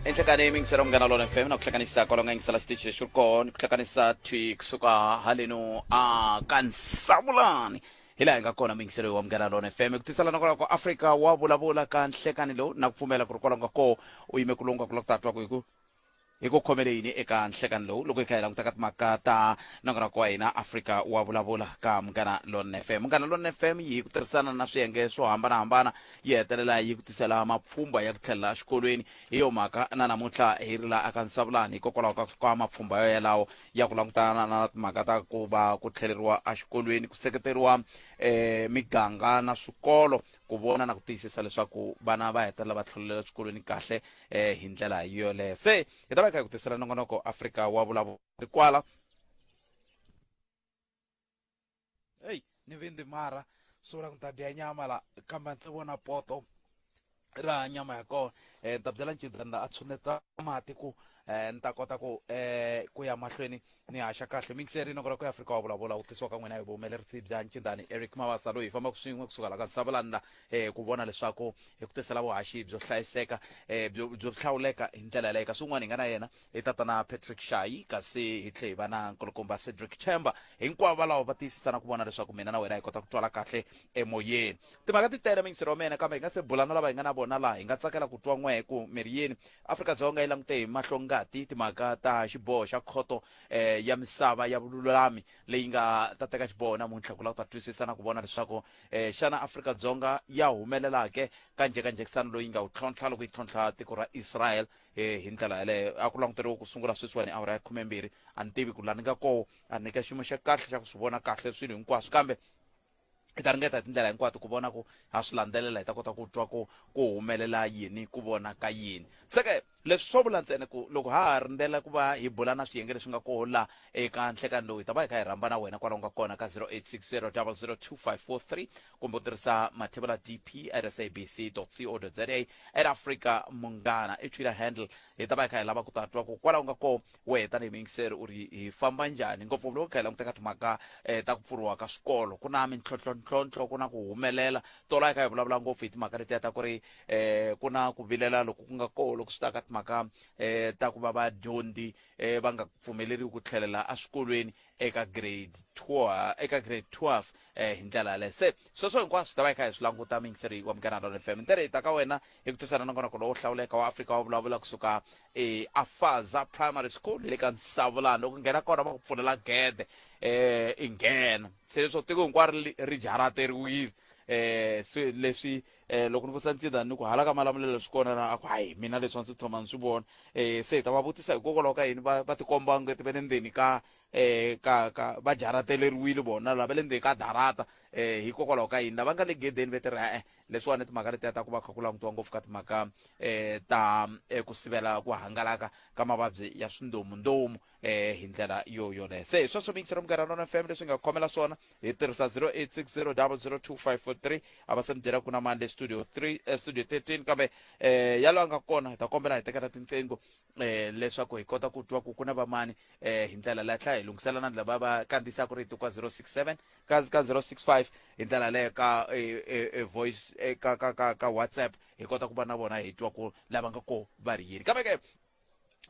enhlekani yingisela munghana lona fm na ku hlanganisa kwalonga yingisela xitichi lexi ri kona ni ku hlanganisa twi kusuka haleno a ka nsavulani hi laha hi nga kona muyingiselo wa munghana lona fm ku tisela na kwalaho ka afrika wa vulavula ka nhlekani lowu na ku pfumela ku ri kwalaho nga koo u yime ku lungwa ku la ku tatwa ku hi ku Hi ku khomele yini eka nhlekani lowu loko hi kha hi languta ka timhaka ta nongonoko wa hina Afrika wa Vulavula ka Munghana Lonene FM? Munghana Lonene FM yi hi ku tirhisana na swiyenge swo hambanahambana yi hetelela yi ku tisela mapfhumba ya ku tlhelela exikolweni. Hi yo mhaka na namuntlha hi ri laha aka Nsavulani hikokwalaho ka ka mapfhumba yo yalawo ya ku langutana na timhaka ta ku va ku tlheleriwa exikolweni, ku seketeriwa eh, miganga na swikolo ku vona na ku tiyisisa leswaku vana va hetelela va tlhelela exikolweni kahle eh hi ndlela yoleyo se hi ta va hi kha hi ku tisela nongonoko afrika wa vulavuri kwala eyi ni vindi mara swi vula ku ni ta dya nyama la kambe ndzi vona poto ra nyama ya kona um ni ta byela ncidanda a tshuneta mati ku um ni ta kota ku um ku ya mahlweni ni haxa kahle mixer rinoko ra ku afrika wa vulavula wu tisiwa ka n'wina hi vuhumelerisi bya ncindani eric mavasa loyi hi fambaka swin'we kusuka la ka nsavulani la um ku vona leswaku hi ku tisela vuhaxi byo hlayiseka um byo byo hlawuleka hi ndlela yaleyo kasi un'wana hi nga na yena i tatana patrick shayi kasi hi tlhe hi va na nkulukumba cedric chamber hinkwavo valawo va tiyisisa na ku vona leswaku mina na wena hi kota ku twala kahle emoyeni Timhaka ti tele minxirho wa mina kambe hi nga se bula na lava hi nga na vona laha hi nga tsakela ku twa n'wehe ku mi ri yini. Afrika-Dzonga yi langute hi mahlo ngati timhaka ta xiboho xa Khoto eh, ya Misava ya Vululami leyi nga ta teka xiboho namuntlha ku lava ku ta twisisa na ku vona leswaku eh, xana Afrika-Dzonga ya humelela ke ka njhekanjhekisano loyi nga wu tlhontlha loko yi tlhontlha tiko ra Israel eh, hi ndlela yaleyo a ku languteriwe ku sungula sweswiwani awara ya khumembirhi a ni tivi ku la ni nga koho a ni ka xiyimo xa kahle xa ku swi vona kahle swilo hinkwaswo kambe hi ta ringeta hi tindlela hinkwato ku vona ku ha swi landzelela hi ta kota ku twa ku ku humelela yini ku vona ka yini seke leswi swo vula ntsena ku loko ha ha rindzela ku va hi bula na swiyenge leswi nga koho la eka nhlekani lowu hi ta va hi kha hi rhamba na wena kwalaho nga kona ka 0860002543 kumbe u tirhisa mathevula dp at sabc co za at africa munghana i twitter handle hi ta va hi kha hi lava ku ta twa ku kwalaho nga koho Wehe tanihi muyingiseri u ri hi famba njhani ngopfu loko hi kha hi languta ka timhaka um ta ku pfuriwa ka swikolo ku na mintlhontlhontlhontlho ku na ku humelela tola hi kha hi vulavula ngopfu hi timhaka letiya ta ku ri um ku na ku vilela loko ku nga koho loko swi ta ka timhaka um ta ku va vadyondzi um va nga pfumeleriwi ku tlhelela eswikolweni eka grade two eka grade twelve um hi ndlela yaleyo se sweswo hinkwaswo hi ta va hi kha hi swi languta muyingiseri wa munghana lona fm ntirho hi ta ka wena hi ku tisana nongonoko lowo hlawuleka wa afrika wa vulavula kusuka eafaza primary school le ka nsavulani loko nghena kona va ku pfulela gede um i nghena se leswo tiko hinkwaro ri jarateriwile eh swi leswi eh loko ni vutisa ntsinda ni ku hala ka malamulelo swi kona na ku hayi mina leswi ndzi tshama ni swi vona eh se hi ta va vutisa hikokwalaho ka yini va va tikomba ngeti va le ndzeni ka eh ka ka va jarateleriwile vona lava le ndzeni ka darata eh hikokwalaho ka yini lava nga le gedeni va tirha eh leswiwani timhaka letiya ta ku va kha ku langutiwa ngopfu ka timhaka um ta um ku sivela ku hangalaka ka mavabyi ya swindomundomu um hi ndlela yo yoleyo se hi sweswo mixero mugara nona fm leswi nga khomela swona hi tirhisa 0860002543 a va se mi byela ku na mani le studio 3 eh, studio 13 kambe um yalo a nga kona hi ta kombela hi tekela tinqingho eh leswaku hi kota ku twa ku ku na vamani eh hi ndlela leyi tlhela hi lunghisela na lava va kandziyisaka rito ka 067 ka ka 065 hi ndlela leyo ka eh, eh, eh, voice eh, ka ka ka ka whatsapp hi kota ku va na vona hi twa ku lava nga ko va ri yini kambe ke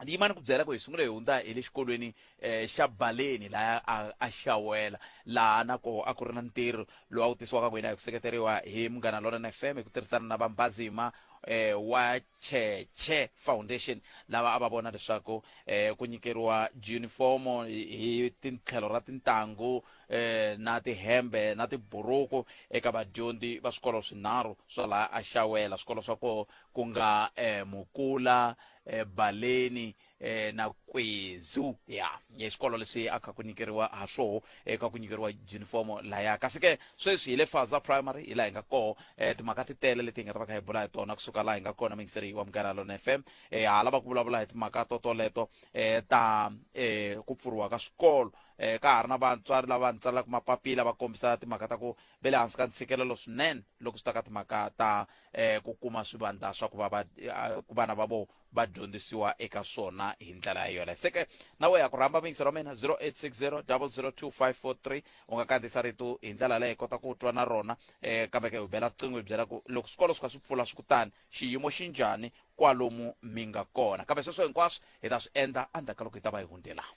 ni yimani ku byela ku hi sungule hi hundza hi le xikolweni eh xa baleni laha a, a xawela laha na ko a ku ri na ntirho lowu a wu tisiwaka n'wina hi ku seketeriwa hi munghana lona na fm hi ku tirhisana na vambazima eh wa cheche foundation lava a va vona leswaku eh, ku nyikeriwa junifomo hi hi tintlhelo ra tintangu eh, na tihembe na tiburuku eka vadyondzi va swikolo swinharhu swa laha axawela swikolo swa koho ku nga eh, mukula eh, baleni eh, na kwezu ya ya xikolo lexi a kha ku nyikeriwa ha swoho eka ku nyikeriwa junifomo laya kasi ke sweswi hi le faza primary hi laha hi nga koho eh, timhaka ti tele leti hi nga ta va kha hi bula hi tona kusuka laha hi nga kona mingiseri wa mugara lona f m eh, ha lava ku vulavula hi timhaka to toleto eh, ta eh, ku pfuriwa ka swikolo eh, ka ha ri na vatswari lava ni tsalaka mapapila va kombisa timhaka ta ku ve le hansi ka ntshikelelo swinene loko swi ta ka timhaka ta eh, ku kuma swivandla swa ku va va- eh, ku vana va vona va dyondzisiwa eka swona hi ndlela ya yona se ke na wehe ku rhamba mixo ra mina 0860 002543 u nga kandziyisa rito hi ndlela leyi kota ku twa na rona um kambe ke u bela riqingho hi byela ku loko swikolo swi kha swi pfula swi kutani xiyimo xi njhani kwalomu mi nga kona kambe sweswo hinkwaswo hi ta swi endla endzhaku ka loko hi ta va hi hundelana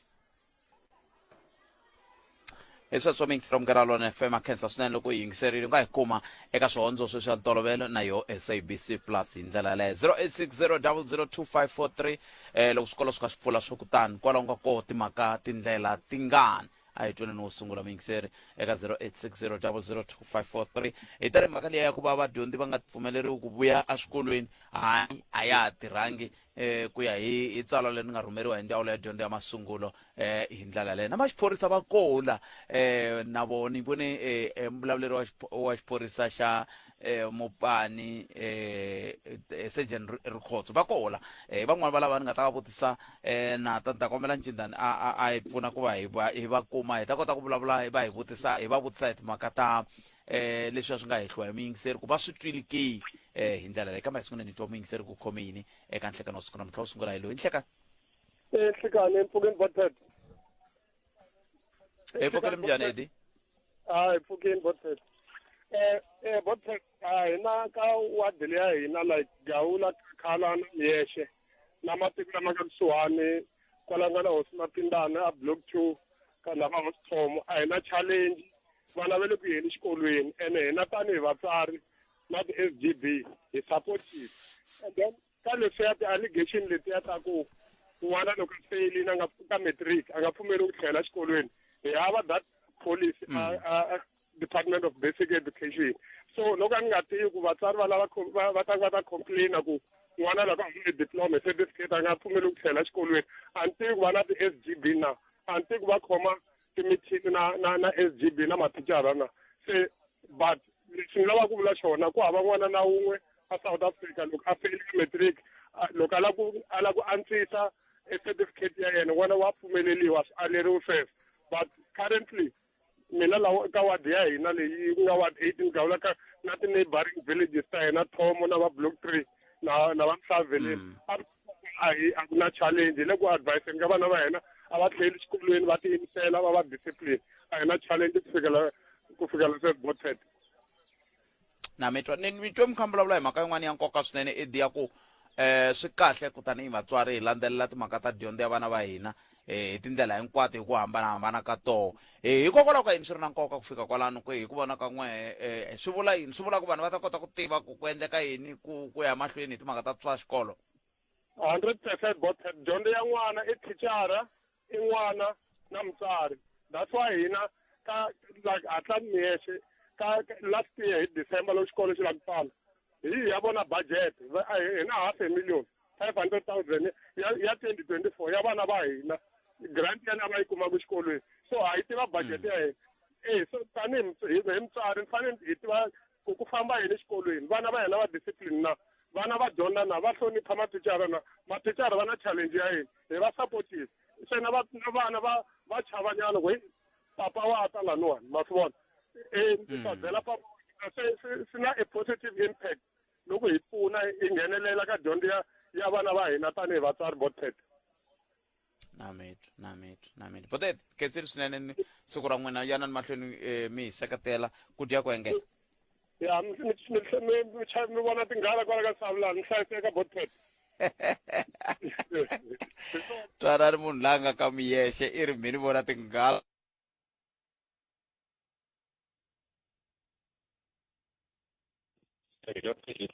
hi swa swa mixta mungarhalwana fm akhensa swinene loko yi yingiserile u nga yi kuma eka swihondzo sweswi ya ntolovelo na yo sabc plus hi ndlela yaleyo 0860002543 eh loko swikolo swi kha swi pfula swo kutani kwalaho nga koho timhaka tindlela tingani a hi tweni ni wo sungula muyingiseri eka 0860002543 hi ta ri mhaka leyi ya ku va vadyondzi va nga pfumeleriwi ku vuya eswikolweni hayi a ya ha tirhangi eh ku ya hi hi tsalwa leri nga rhumeriwa hi ndzawulo ya dyondzo ya masungulo eh hi ndlela leyi na maxiphorisa va kola eh na vona ni vone eh, eh mbulavuleri wa xipho- wa xiphorisa xa eh mupani eh eh, surgeon Ri- rikhotso va kola eh van'wani va lava ni nga ta va vutisa eh na ta ni ta kombela ncindani a a a hi pfuna ku va hi va hi va kuma hi ta kota ku vulavula hi va hi vutisa hi va vutisa hi timhaka ta eh leswi a swi nga hehliwa hi muyingiseri ku va swi twile ke eh hi ndlela leyi kambe sungula ni twa muyingiseri ku khome yini eka nhlekano wa siku namuntlha wo sungula hi loyi nhleka Eh, Hlekane empfhukeni Botshead. hi pfukele minjhani edi Ah, empfhukeni Botshead. Eh, eh Botshead, ah hina ka ward leyi ya hina like Gawula, Khala na Miyeshe na matiko lama nga kusuhani kwala nga na hosi Mapindana a block 2 ka lava hosi Thomo a hina challenge vana va le ku yeni xikolweni ene hina tanihi vatswari na ti S G B hi supportive and then ka leswiya ti allegation letiya ta ku n'wana loko a feyilini a nga ka matric a nga pfumeli ku tlhela xikolweni hi hava that policy a mm. a a department of basic education so loko a ni nga tivi ku vatswari va lava va va ta va ta complaina ku n'wana loko a hule diploma hi certificate a nga pfumeli ku tlhela xikolweni a ni tivi ku va na ti-s g b na a ni tivi ku va khoma timithingi na na na s g b na mathicara na se but lexi ni lavaka ku vula xona ku hava n'wana na wun'we a south africa loko a feyile matric loko a lava ku a lava ku antswisa e certificate ya yena n'wana wa pfumeleliwa swi aleriwe sweswo but currently mina lawa ka wadi ya hina leyi ku nga wadi eight ni gawula ka na ti-neighboring villages ta hina thomo na va block three na na va mhlaveleni mm. a hi a ku na challenge le ku advise ka vana va hina a va tlheli xikolweni va tiyimisela va va discipline a hi na challenge ku fikela ku fikela se botet na mitwa ni mitwe mukhambi vulavula hi mhaka yin'wana ya nkoka swinene i diya ku eh swi kahle ku tanihi vatswari hi landzelela timhaka ta dyondzo ya vana va hina eh, hi tindlela hinkwato hi ku hambanahambana ka toho eh, hikokwalaho ka yini swi ri na nkoka ku fika kwalano ku hi ku vona ka n'we eh, swi vula yini swi vula ku vanhu va ta kota ku tiva ku ku endleka yini ku ku ya mahlweni hi timhaka ta swa xikolo hundred percent bot dyondzo ya n'wana i thichara i n'wana na mutsari that's why hina ka like hatla miyexe ka last year hi december loko xikolo xi la ku pfala hi ya vona budget hina half a million five hundred thousand ya ya twenty twenty four ya vana va hina grant ya ni a va yi kumaka xikolweni so ha yi tiva budget ya hina e so tanihi mus- hi hi mutswari ni fanele hi tiva ku ku famba yini exikolweni vana va hina va discipline na vana va dyondza na va hlonipha mathicara na mathicara va na challenge ya yini hi va supportive se na va- na vana va va chavanyana ku "Hey, papa wa ta laniwani ma swi vona e ni ta byela papa se se- swi na a positive impact loko hi pfuna hi nghenelela ka dyondzo ya ya vana va hina tanihi vatswari botet namitwa namitwa namitwa botet ketseri swinene ni siku ra n'wina yanani mahlweni um mi hi seketela ku dya ku engeta ya mi vona tinghala kwala ka savulani mi hlayiseka botet twanani munhu la nga ka miyexe i ri mhini vona tinghala There you go. Thank you.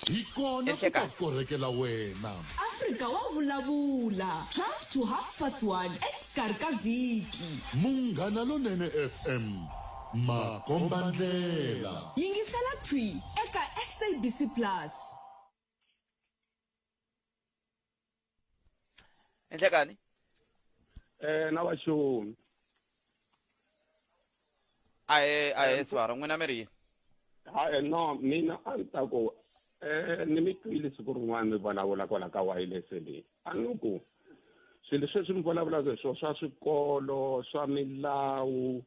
hi kona ku ta korekela wena afrika wa vulavula 12 to half past 1 exikarhi ka vhiki munghana lonene fm makombandlela yingisela thwi eka sabc plus enhlekani Eh na vaxoni. a hi a hi swara n'wina mi ri yini Ha eh, no mina a ni ta ku eh ni mi twile siku rin'wana mi vulavula kwala ka wireless leyi. a ni ku swilo leswi leswi mi vulavulaka hi swona swa swikolo swa milawu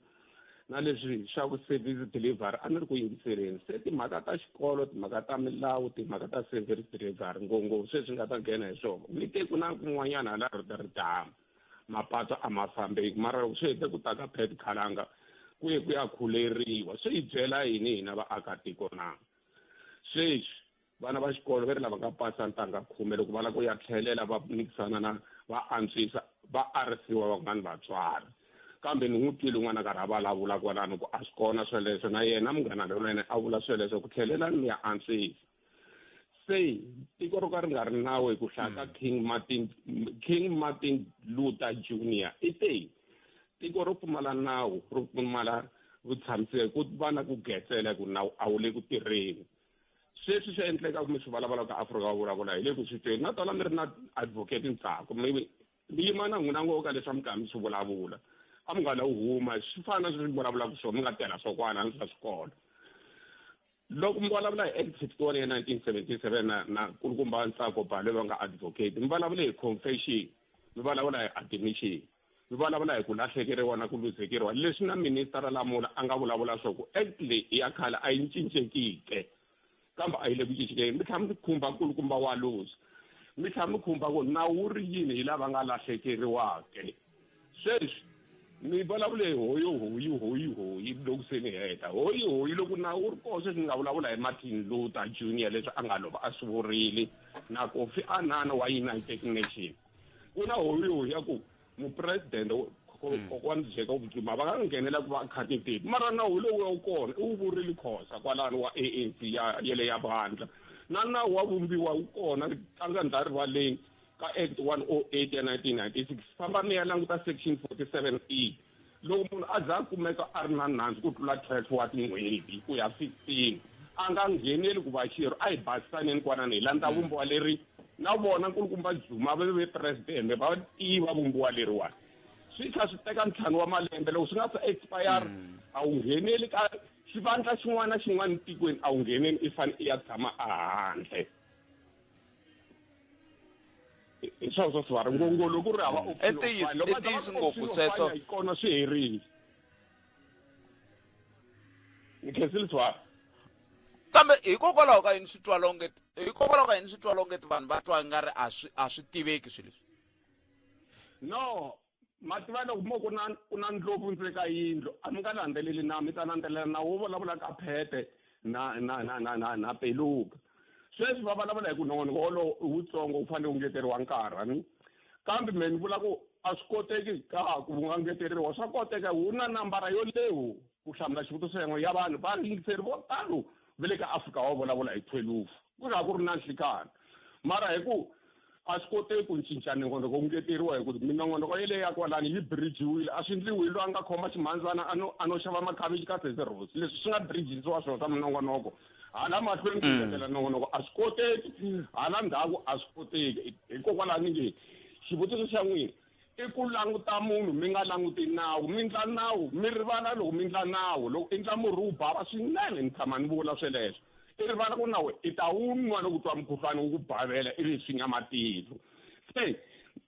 na leswi swa ku service delivery a ni ri ku yingiseleni se timhaka ta xikolo timhaka ta milawu timhaka ta service delivery ngopfu sweswi nga ta nghena hi swona mi te ku na kun'wanyana hala ridama mapatu a ma fambeki mara loko swi hete ku ta ka pet khalanga ku ye ku ya khuleriwa swi hi byela yini hina vaakatiko na sweswi Vana va xikolo va ri lava nga pasa ntangha khume loko va lava ku ya tlhelela va mikisana na va antswisa va arisiwa van'wana vatswari kambe ni n'wi twile n'wana karhi a vulavula kwalano ku a swi kona sweleswo na yena munghana lonene a vula sweleswo ku tlhelelani mi ya antswisa se tiko ro ka ri nga ri nawu hi ku hlaya ka hmm. king martin king martin luther junior i te tiko ro pfumala nawu ro pfumala vutshamiseki ku va na ku getsela ku nawu a wu le ku tirheni sweswi swi endleka kumbe swi vulavula ka afrika va vulavula hi le ku swi tweni na tona mi ri na advocate ntsako mi mi yima na n'wina ngo ka leswi a mi karhi mi swi vulavula a mi nga la huma swi fana na sweswi mi vulavulaka swona mi nga tirha swokwana ni swa swikolo loko mi vulavula hi act fifty one ya nineteen seventy seven na na kulukumba ntsako bale va nga advocate mi vulavula hi confession mi vulavula hi admission Hi vulavula hi ku lahlekeriwa na ku luzekeriwa leswi na Minisitara Lamola a nga vulavula swo ku Act leyi i ya khale a yi cincekike kambe a yi le ku cincekeni mi tlhela mi khumba nkulukumba wa luzi mi tlhela mi khumba ku nawu wu ri yini hi lava nga lahlekeriwake sweswi ni vulavule hi hoyi hoyi hoyi hoyi loko se ni heta hoyi hoyi loko na wu ri kona sweswi ni nga vulavula hi martin luther junior leswi a nga lova a swi vurile na kofi anana wa united nation ku na holiho ya ku mupresidente hmm. kokwani jacob zuma va nga nghenela ku va khate tepi mara nawu lowu ya wu kona i wu vurile khosa kwalani wa anc ya yele ya vandla na nawu wa vumbiwa wu kona tlanga ndza rivaleni ka act one o oh eight ya nineteen ninety six famba mi ya languta section forty seven e Loko munhu a za a kumeka a ri na nandzu ku tlula 12 wa tin'hweti ku ya 16, a nga ngheneli ku va xirho. A hi basisaneni kwanani hi landza Vumbiwa leri na vona nkulukumba Zuma va ve Presidente va tiva Vumbiwa leriwani. Swi tlha swi teka ntlhanu wa malembe loko swi nga se expire a wu ngheneli ka xivandla xin'wana na xin'wana etikweni a wu ngheneni i fane i ya tshama a handle. hi swona swa swivari ngongolo ku ri hava mm. optionlokotiyisi ngopfu sweswo hi kona swi herile ni khensile swivari kambe hikokwalaho ka yini swi twa longe hikokwalaho ka yini swi twa longe ti vanhu va twa nga ri a swi a swi tiveki swilo leswi no ma tiva loko mo ku na ku na ndlopfu ndzeni ka yindlu a mi nga landzeleli na mi ta landzelela na wo vulavula ka phete na na na na na na peluka sweswi va vulavula hi ku nongonoko wolowo i wutsongo wu fanele wu ngeteriwa nkarhi a ni kambe me ni vula ku a swi koteki ka ku wu nga ngeteriwa swa koteka wu na nambara yo lewu ku hlamula xivutiso yan'we ya vanhu va yingiseri vo talo va le ka afrika wa vulavula hi thwelufu ku ri a ku ri na nhlikana mara hi ku a swi koteki ku cinca nongonoko wu ngeteriwa hi ku minongonoko yeleyo ya kwalani yi birijiwile a swi endliwi hi loyi a nga khoma ximhandzana a no a no xava makhavichi ka seserosi leswi swi nga birijisiwa swona swa minongonoko hala mahlweni ku mm. ngetela nongonoko a swi koteki hala ndhaku a swi koteki hikokwalaho ni nge xivutiso xa n'wina I ku languta munhu mi nga languti nawu mi ndla nawu mi rivala loko mi ndla nawu loko i ndla murhi wu bava swinene ni tshama ni vula sweleswo i rivala ku nawu i ta wu nwa loko u twa mukhuhlwani wu ku bavela ivi swi nga matihlo se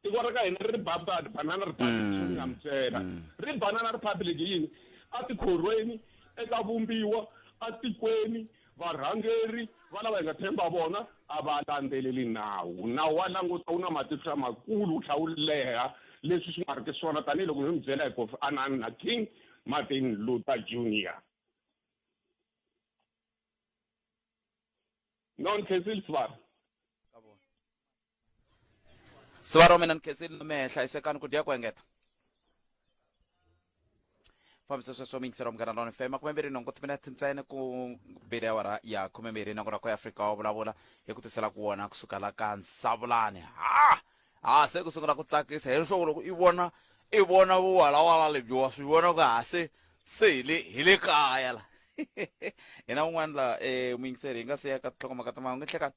tiko ra ka hina ri ri babadi banana republic mm. swi nga mi byela mm. ri banana republic yini a tikhorweni eka vumbiwa atikweni Varhangeri va lava hi nga tshemba vona a va landzeleli nawu. Nawu wa languta wu na matihlo lamakulu wu tlhela wu leha leswi swi nga ri ki swona tanihiloko mi mi byela hi Kofi Annan na King Martin Luther Junior. Non khensile sibari. siva ro mina ni khensini na mehe hlayisekani ku dya ku engeta fambisa sweswo miyingiselo wa munghana lona fm makume mbirhi nhungu timinete ntsena ku bile awara ya khume mbirhi nakona ku ya afrika wa vulavula hi ku tisela ku wona kusuka la ka nsavulani ha ha se ku sungula ku tsakisa hi leswaku loko i vona i vona vuwalawala lebyi wa swi vona ku ha se se hi le hi le kaya la hina un'wana la um muyingiseri hi nga se ya ka tinhlokomhaka timanga u nge hlekani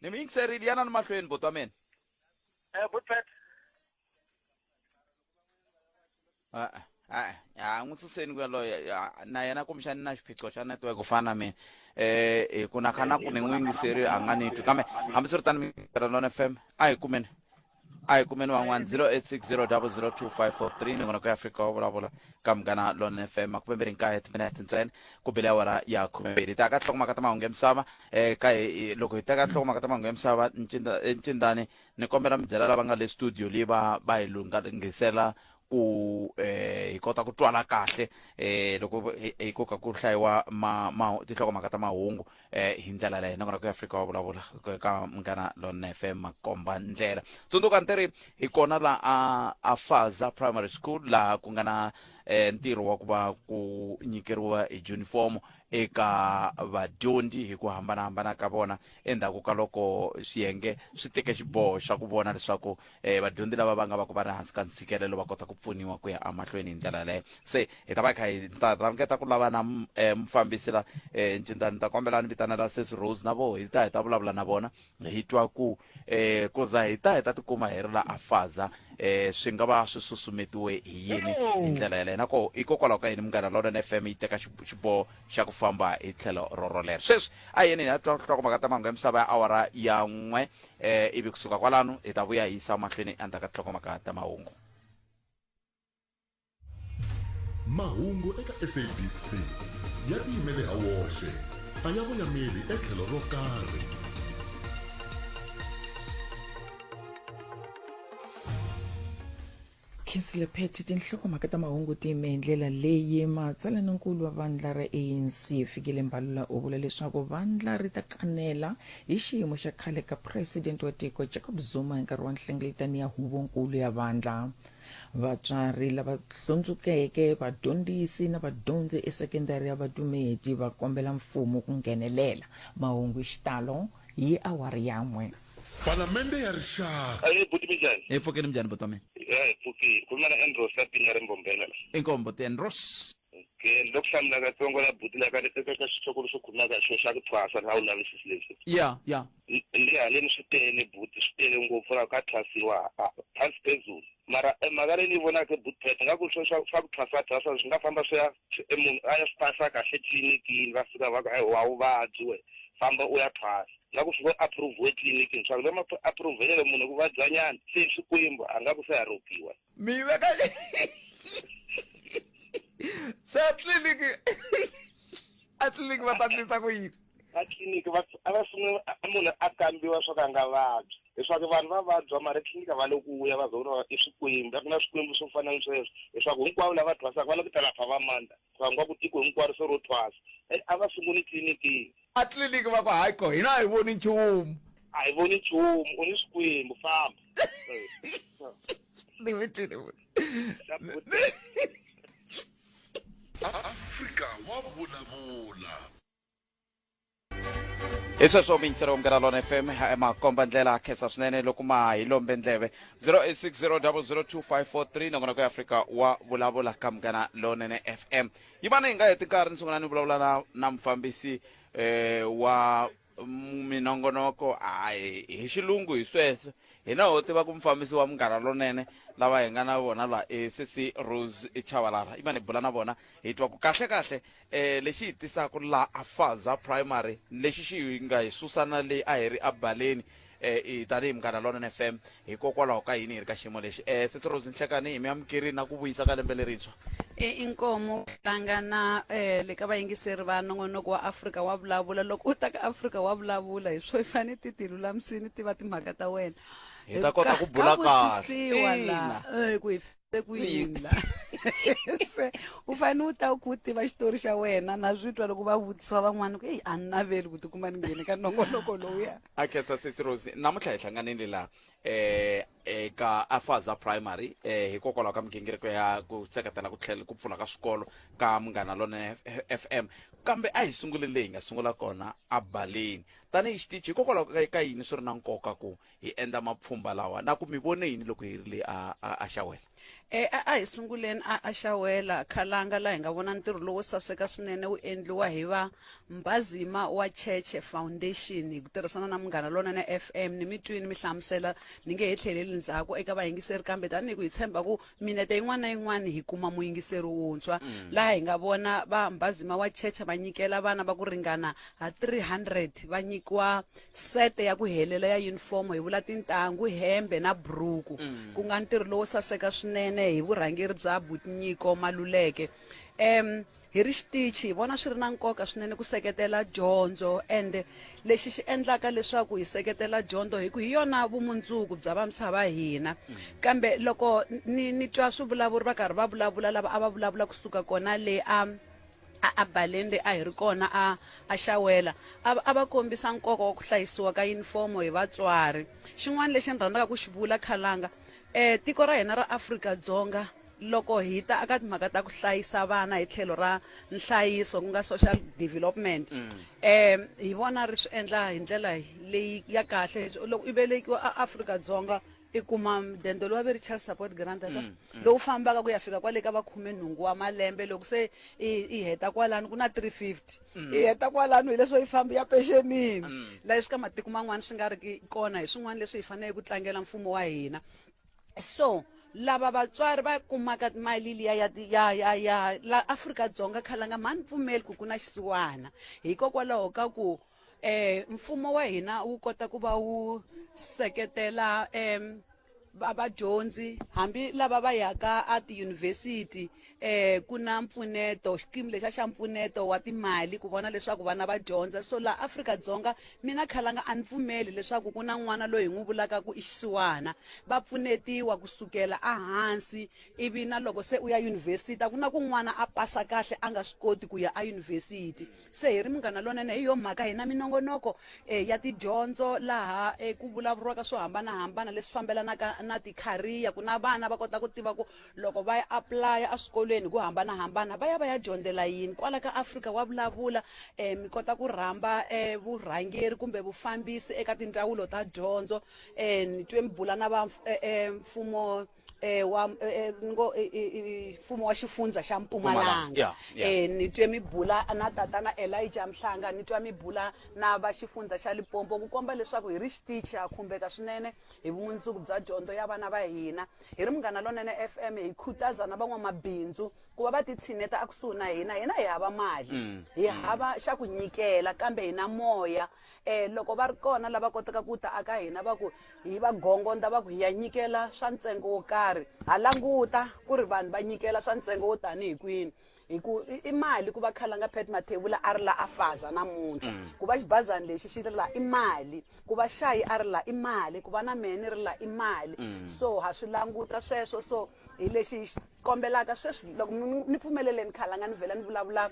ni mi yingiserile yanani mahlweni boti wa mina Eh, good pet. a a a n'wi suseni ku yaloye ya- na yena kumbexani na xiphiqo xa network ku fana na mina eh hi ku na khana ku ni n'wi yingiserile a nga ni twi kambe hambiswiritano mi tirha lona fm a hi kumeni a hi kumeni van'wana 0860002543 mingonoko ya afrika wa vulavula ka munghana lon fm makumembiri nkaye timinete ntsena ku bile awara ya khumembiri hi ta ka nhlokomhaka ta mahungu ya misava um ka hi loko hi teka nhlokomhaka ta mahungu ya misava ncindani ni kombela mi byela lava nga le studio leyi va va hi lunghangisela ku eh hi kota ku twala kahle eh loko hi hi koka ku hlayiwa ma, ma tinhlokomhaka ta mahungu eh hi ndlela leyi nakona ku ya Afrika wa vulavula ka- ka mngana lona FM makomba ndlela tsundzuka ntiri hi kona la a a Faza Primary School la ku nga na eh ntirho wa ku va ku nyikeriwa hi uniform eka vadyondzi hi ku hambanahambana ka vona endzhaku ka loko swiyenge swi teke xiboho xa ku vona leswaku eh vadyondzi lava va nga va ku va ri hansi ka ntshikelelo va kota ku pfuniwa ku ya amahlweni hi ndlela leyo se hi ta va kha hi ta rhangeta ku lava na eh, mufambisi la eh ncinta ni ta kombela ni vitanela sesi rose na vo hi ta hi ta vulavula na vona hi twa ku eh koza hi ta hi ta tikuma hi ri la afaza eh swi nga va swi susumetiwe hi yini hi ndlela yaleyo nako hikokwalaho ka yini munghana lawulen f m yi teka xib- xiboho xa ku famba hi tlhelo rorolero sweswi a yini hi ya twa nhlokomhaka ta mahungu ya misava ya awara ya n'we eh, ivi kusuka kwalano hi ta vuya hi yisa mahlweni endzhaku ka tinhlokomhaka ta mahungu mahungu eka sabc ya tiyimele ha woxe a ya voyameli etlhelo ro karhi Kingsley Phetty, tinhlokomhaka ta mahungu ti yime hi ndlela leyi matsalanankulu wa vandla ra ANC Fikile Mbalula u vula leswaku vandla ri ta kanela hi xiyimo xa khale ka president wa tiko Jacob Zuma hi nkarhi wa nhlengeletano ya huvonkulu ya vandla. Vatswari lava hlundzukeke, vadyondzisi na vadyondzi esekendari ya Vadumedi va kombela mfumo ku nghenelela. Mahungu hi xitalo hi awara yan'we. Palamende ya Rixaka. Ayi buti minjani? Hi pfukile minjani buti wa mina? Ya hi pfukile. Khuluma na Andros la pinya ri mbombela la. Inkombo ti Andros. Okay, ni lo ku hlamula katsongo la buti la ka eka ka xitshoko lexi khulumaka hi xona xa ku thwasa na u lavisisi leswi. Ya, ya. Le haleni swi tele buti swi tele ngopfu la ka thwasiwa phasi phezulu. Mara mhaka leyi ni yi vonaka buti Pat nga ku swa ku thwasa thwasa swi nga famba swi ya Se e munhu a ya swi phasa kahle etliliniki va fika va ku hayi a wu vabyi wehe famba u ya phasa na ku fika u approve-we etliliniki swa ku va ma ku approve-lele munhu ku vabyanyana se hi Xikwembu a nga ku se a rhobiwa. Mi ve ka se a tliliniki a tliliniki va ta ndlisa ku yini? A tliliniki va a va sungula munhu a kambiwa swa ku a nga vabyi leswaku vanhu va vabya mara tliliniki va le ku ya va zona i swikwembu a ku na swikwembu swo fana ni sweswo leswaku hinkwavo lava thwasaka va le ku ta lapha va mandla va nga ku tiko hinkwaro se ro thwasa e a va sunguli tliliniki a tliliniki va ku hayi ko hina a hi voni nchumu a hi voni nchumu u ni swikwembu famba ni mi twile afrika wa vulavula hi sweswo mingiselo munghana lona fm makomba ndlela khensa swinene loko ma hi lombe ndleve 0860002543 nakona ku ya afrika wa vulavula ka munghana lonene fm yi vana hi nga heti nkarhi ni sungula ni vulavula na, na mufambisi eh, wa minongonoko hayi hi xilungu hi sweswo hina ho tiva ku mufambisi wa munghana lonene lava hi nga na vona la e sesi rose chavalara i vani hi bula na vona hi twa ku kahle kahle eh lexi hi tisaka la afaza primary lexi xi nga hi susana leyi a hi ri abaleni eh tanihi munghana lona fm hikokwalaho ka yini hi ri ka xiyimo lexi eh setsorozi nhlekani hi mi amukerini na ku vuyisa ka lembe lerintshwa e inkomo tlanga na eh le ka vayingiseri va nongonoko wa afrika wa vulavula loko u ta ka afrika wa vulavula hi swo i fanele ti ti lulamisini ti va timhaka ta wena hi ta kota ku bula kahle ku hi se ku yini la se u fanele u ta ku u tiva xitori xa wena na swi twa loko va vutisiwa van'wana ku eyi a ni naveli ku tikuma ni nghene ka nongonoko lowuya a khetsa sesi rose namuntlha hi hlanganile laha um eka afaza primary um hikokwalaho ka migingiriko ya ku seketela ku tlhela ku pfula ka swikolo ka munghana lone f m kambe a hi sunguleni leyi hi nga sungula kona a baleni tanihi xitichi hikokwalaho ka- ka yini swi ri na nkoka ku hi endla mapfhumba lawa na ku mi vone yini loko hi ri le a, a, a xawela e a a hi sunguleni a a xawela khalanga laha hi nga vona ntirho lowo saseka swinene wu endliwa hi va mbazima wa cheche foundation hi ku tirhisana na munghana lonene fm ni mi twini mi hlamusela ni nge he tlheleli ndzhaku eka vayingiseri kambe tanihi ku hi tshemba ku minete yin'wana na yin'wana hi kuma muyingiseri wuntshwa laha hi nga vona va mbhazima wa checha va nyikela vana va ku ringana ha 300 va nyikiwa sete ya ku helela ya yunifomo hi vula tintangu hembe na buruku ku nga ntirho lowo saseka swinene hi vurhangeri bya butinyiko maluleke um hi ri xitichi hi vona swi ri na nkoka swinene ku seketela dyondzo ende lexi xi endlaka leswaku hi seketela dyondzo hi ku hi yona vumundzuku bya vantshwa va hina kambe loko ni ni twa swivulavuri va karhi va vulavula lava a va vulavula kusuka kona le a a a baleni le a hi ri kona a a xawela a va- a va kombisa nkoka wa ku hlayisiwa ka yunifomo hi vatswari xin'wana lexi ni rhandzaka ku xi vula khalanga um tiko ra hina ra afrika dzonga Loko hi ta aka timhaka ta ku hlayisa vana hi tlhelo ra nhlayiso ku nga social development mm. um hi vona ri swi endla hi ndlela leyi ya kahle loko i velekiwa a afrika dzonga i kuma dendo lowa ve ri child support grant swa mm, mm. lowu fambaka ku ya fika kwale ka va khume nhungu wa malembe loko se i heta kwalano ku na 350 i heta kwalano hileswo yi fambi ya pexenini laha swi ka matiko man'wana swi nga ri kona hi swin'wana leswi hi faneleke ku tlangela mfumo wa hina so lava vatswari va kumaka mali liya ya ya ya ya la Afrika Dzonga khalanga mhani pfumeli ku ku na xisiwana hikokwalaho ka ku eh mfumo wa hina wu kota ku va wu seketela em va vadyondzi hambi lava va yaka a tiyunivhesiti eh ku na mpfuneto xikimu lexa xa mpfuneto wa timali ku vona leswaku vana va dyondza so laha afrika-dzonga mina khalanga a ni pfumeli leswaku ku na n'wana loyi hi n'wi vulaka ku i xisiwana va pfunetiwa kusukela ehansi ivi na loko se u ya yunivhesiti a ku na ku n'wana a pasa kahle a nga swi koti ku ya eyunivhesiti se hi ri munghana lonene hi yo mhaka hina minongonoko um ya tidyondzo laha um ku vulavuriwaka swo hambanahambana leswi fambelanaka na tikhariya ku na vana va kota ku tiva ku loko va ya apulaya eswikolweni hi ku hambanahambana va ya va ya dyondzela yini kwala ka afrika wa vulavula um mi kota ku rhamba um vurhangeri kumbe vufambisi eka tindzawulo ta dyondzo um ni twe mi bula na va um mfumo um wa ngo mfumo wa xifundzha xa mpumalanga um ni twe mi bula na tatana elija mhlanga ni twa mi bula na va xifundzha xa lipompo ku komba leswaku hi ri xitichi ha khumbeka swinene hi vumundzuku bya dyondzo ya vana va hina hi ri munghana lonene fm hi khutaza na van'wamabindzu ku va va titshineta ekusuhi na hina hina hi hava mali mm. hi mm. hava xa ku nyikela kambe hina moya um loko va ri kona lava kotaka ku ta aka hina va ku hi va gongondza va ku hi ya nyikela swa ntsengo wo karhi ha languta ku ri vanhu va nyikela swa ntsengo wo tanihi kwini hi ku i- i mali ku va khalanga pet mathevula a ri la a faza namuntlha ku va xibazani lexi xi ri la i mali ku va xayi a ri la i mali ku va na mehe ni ri la i mali so ha swi languta sweswo so hi lexi hi xi kombelaka sweswi loko mi- mi- ni pfumeleleni khalanga ni vhela ni vulavula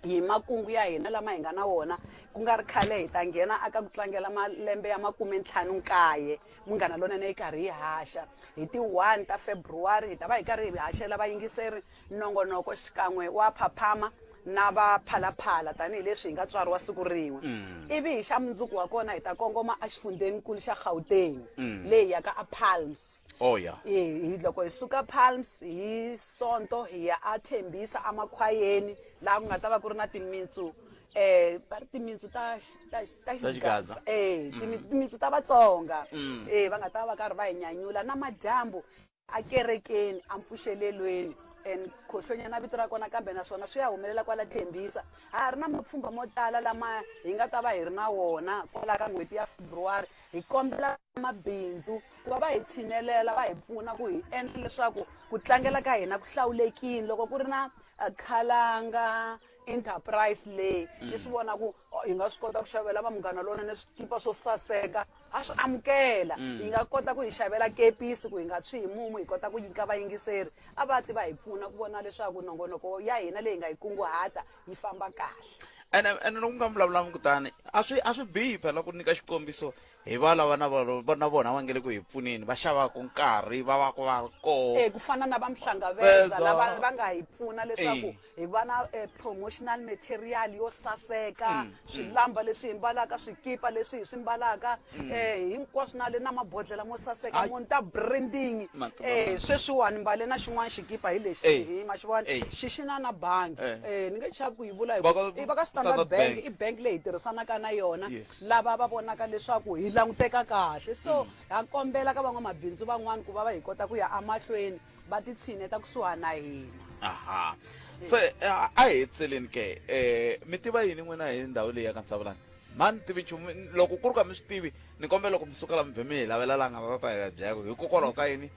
hi makungu ya hina lama hi nga na wona ku nga ri khale hi ta nghena aka ku tlangela malembe ya makume ntlhanu nkaye munghana lonene yi karhi yi haxa hi ti-one ta february hi ta va hi karhi hi haxela vayingiseri nongonoko xikan'we wa phaphama na va phalaphala tanihi leswi hi nga tswariwa siku rin'we mm. ivi hi xa mundzuku wa kona hi ta kongoma exifundzhenikulu xa gauteng mm. leyi yaka a palms oh, yeah. e, loko hi suka palms hi sonto hi ya a thembisa emakhwayeni laha ku nga ta va ku ri na timitsu eh ba ri timitsu ta ta ta xigaza eh mm. timitsu ta vatsonga mm. eh va nga ta va karhi va hi nyanyula na madyambu akerekeni ampfuxelelweni and khohlonyana vito ra kona kambe naswona swi ya humelela kwala thembisa ha ha ri na mapfhumba mo tala lama hi nga ta va hi ri na wona kwala ka n'hweti ya februwari hi kombela mabindzu ku va va hi tshinelela va hi pfuna ku hi endla leswaku ku tlangela ka hina ku hlawulekile loko ku ri na khalanga enterprise leyi ni swi vona ku hi nga swi kota ku xavela va munghana lonene swikipa swo saseka a swi amukela mm. hi nga kota ku hi xavela kepisi ku hi nga tshwi hi mumu hi kota ku nyika vayingiseri a va ti va hi pfuna ku vona leswaku nongonoko ya hina leyi nga yi kunguhata yi famba kahle ene ene loko mi nga vulavulanga kutani a swi a swi bihi phela ku nyika xikombiso hi va lava na vona va- na vona va nge le ku hi pfuneni va xavaka nkarhi va va ku va ri koho Eh, ku fana na va mhlangaveza Veza. lava va nga hi pfuna leswaku Eh. hi va na eh, promotional material yo saseka Mm, swilamba leswi hi mbalaka swikipa leswi hi swi mbalaka Mm. eh, hinkwaswo na le na mabodlela mo saseka Ai. mo ni ta branding Matu- eh, matu- sweswiwani mbale na xin'wana xikipa hi lexi Eh. hi ma xi vona Eh. xi xi na na bangi Eh. eh, ni nge chavi ku yi vula hi Va ka- ku- i va ka standard Standard bank Bank. i bank leyi hi tirhisanaka na yona Yes. lava va vonaka leswaku hi languteka kahle so mm. ha kombela ka van'wamabindzu van'wani ku va va hi kota ku ya amahlweni va titshineta kusuhana na hina aha se eh, a hi hetseleni ke um mi tiva yini n'wina hi ndhawu leyi ya ka nsavulani mani tivi nchumu loko ku ri ka mi swi tivi ni kombela loko mi suka la mi vhe mi hi lavela la nga va va hi ya byaka hikokwalaho ka yini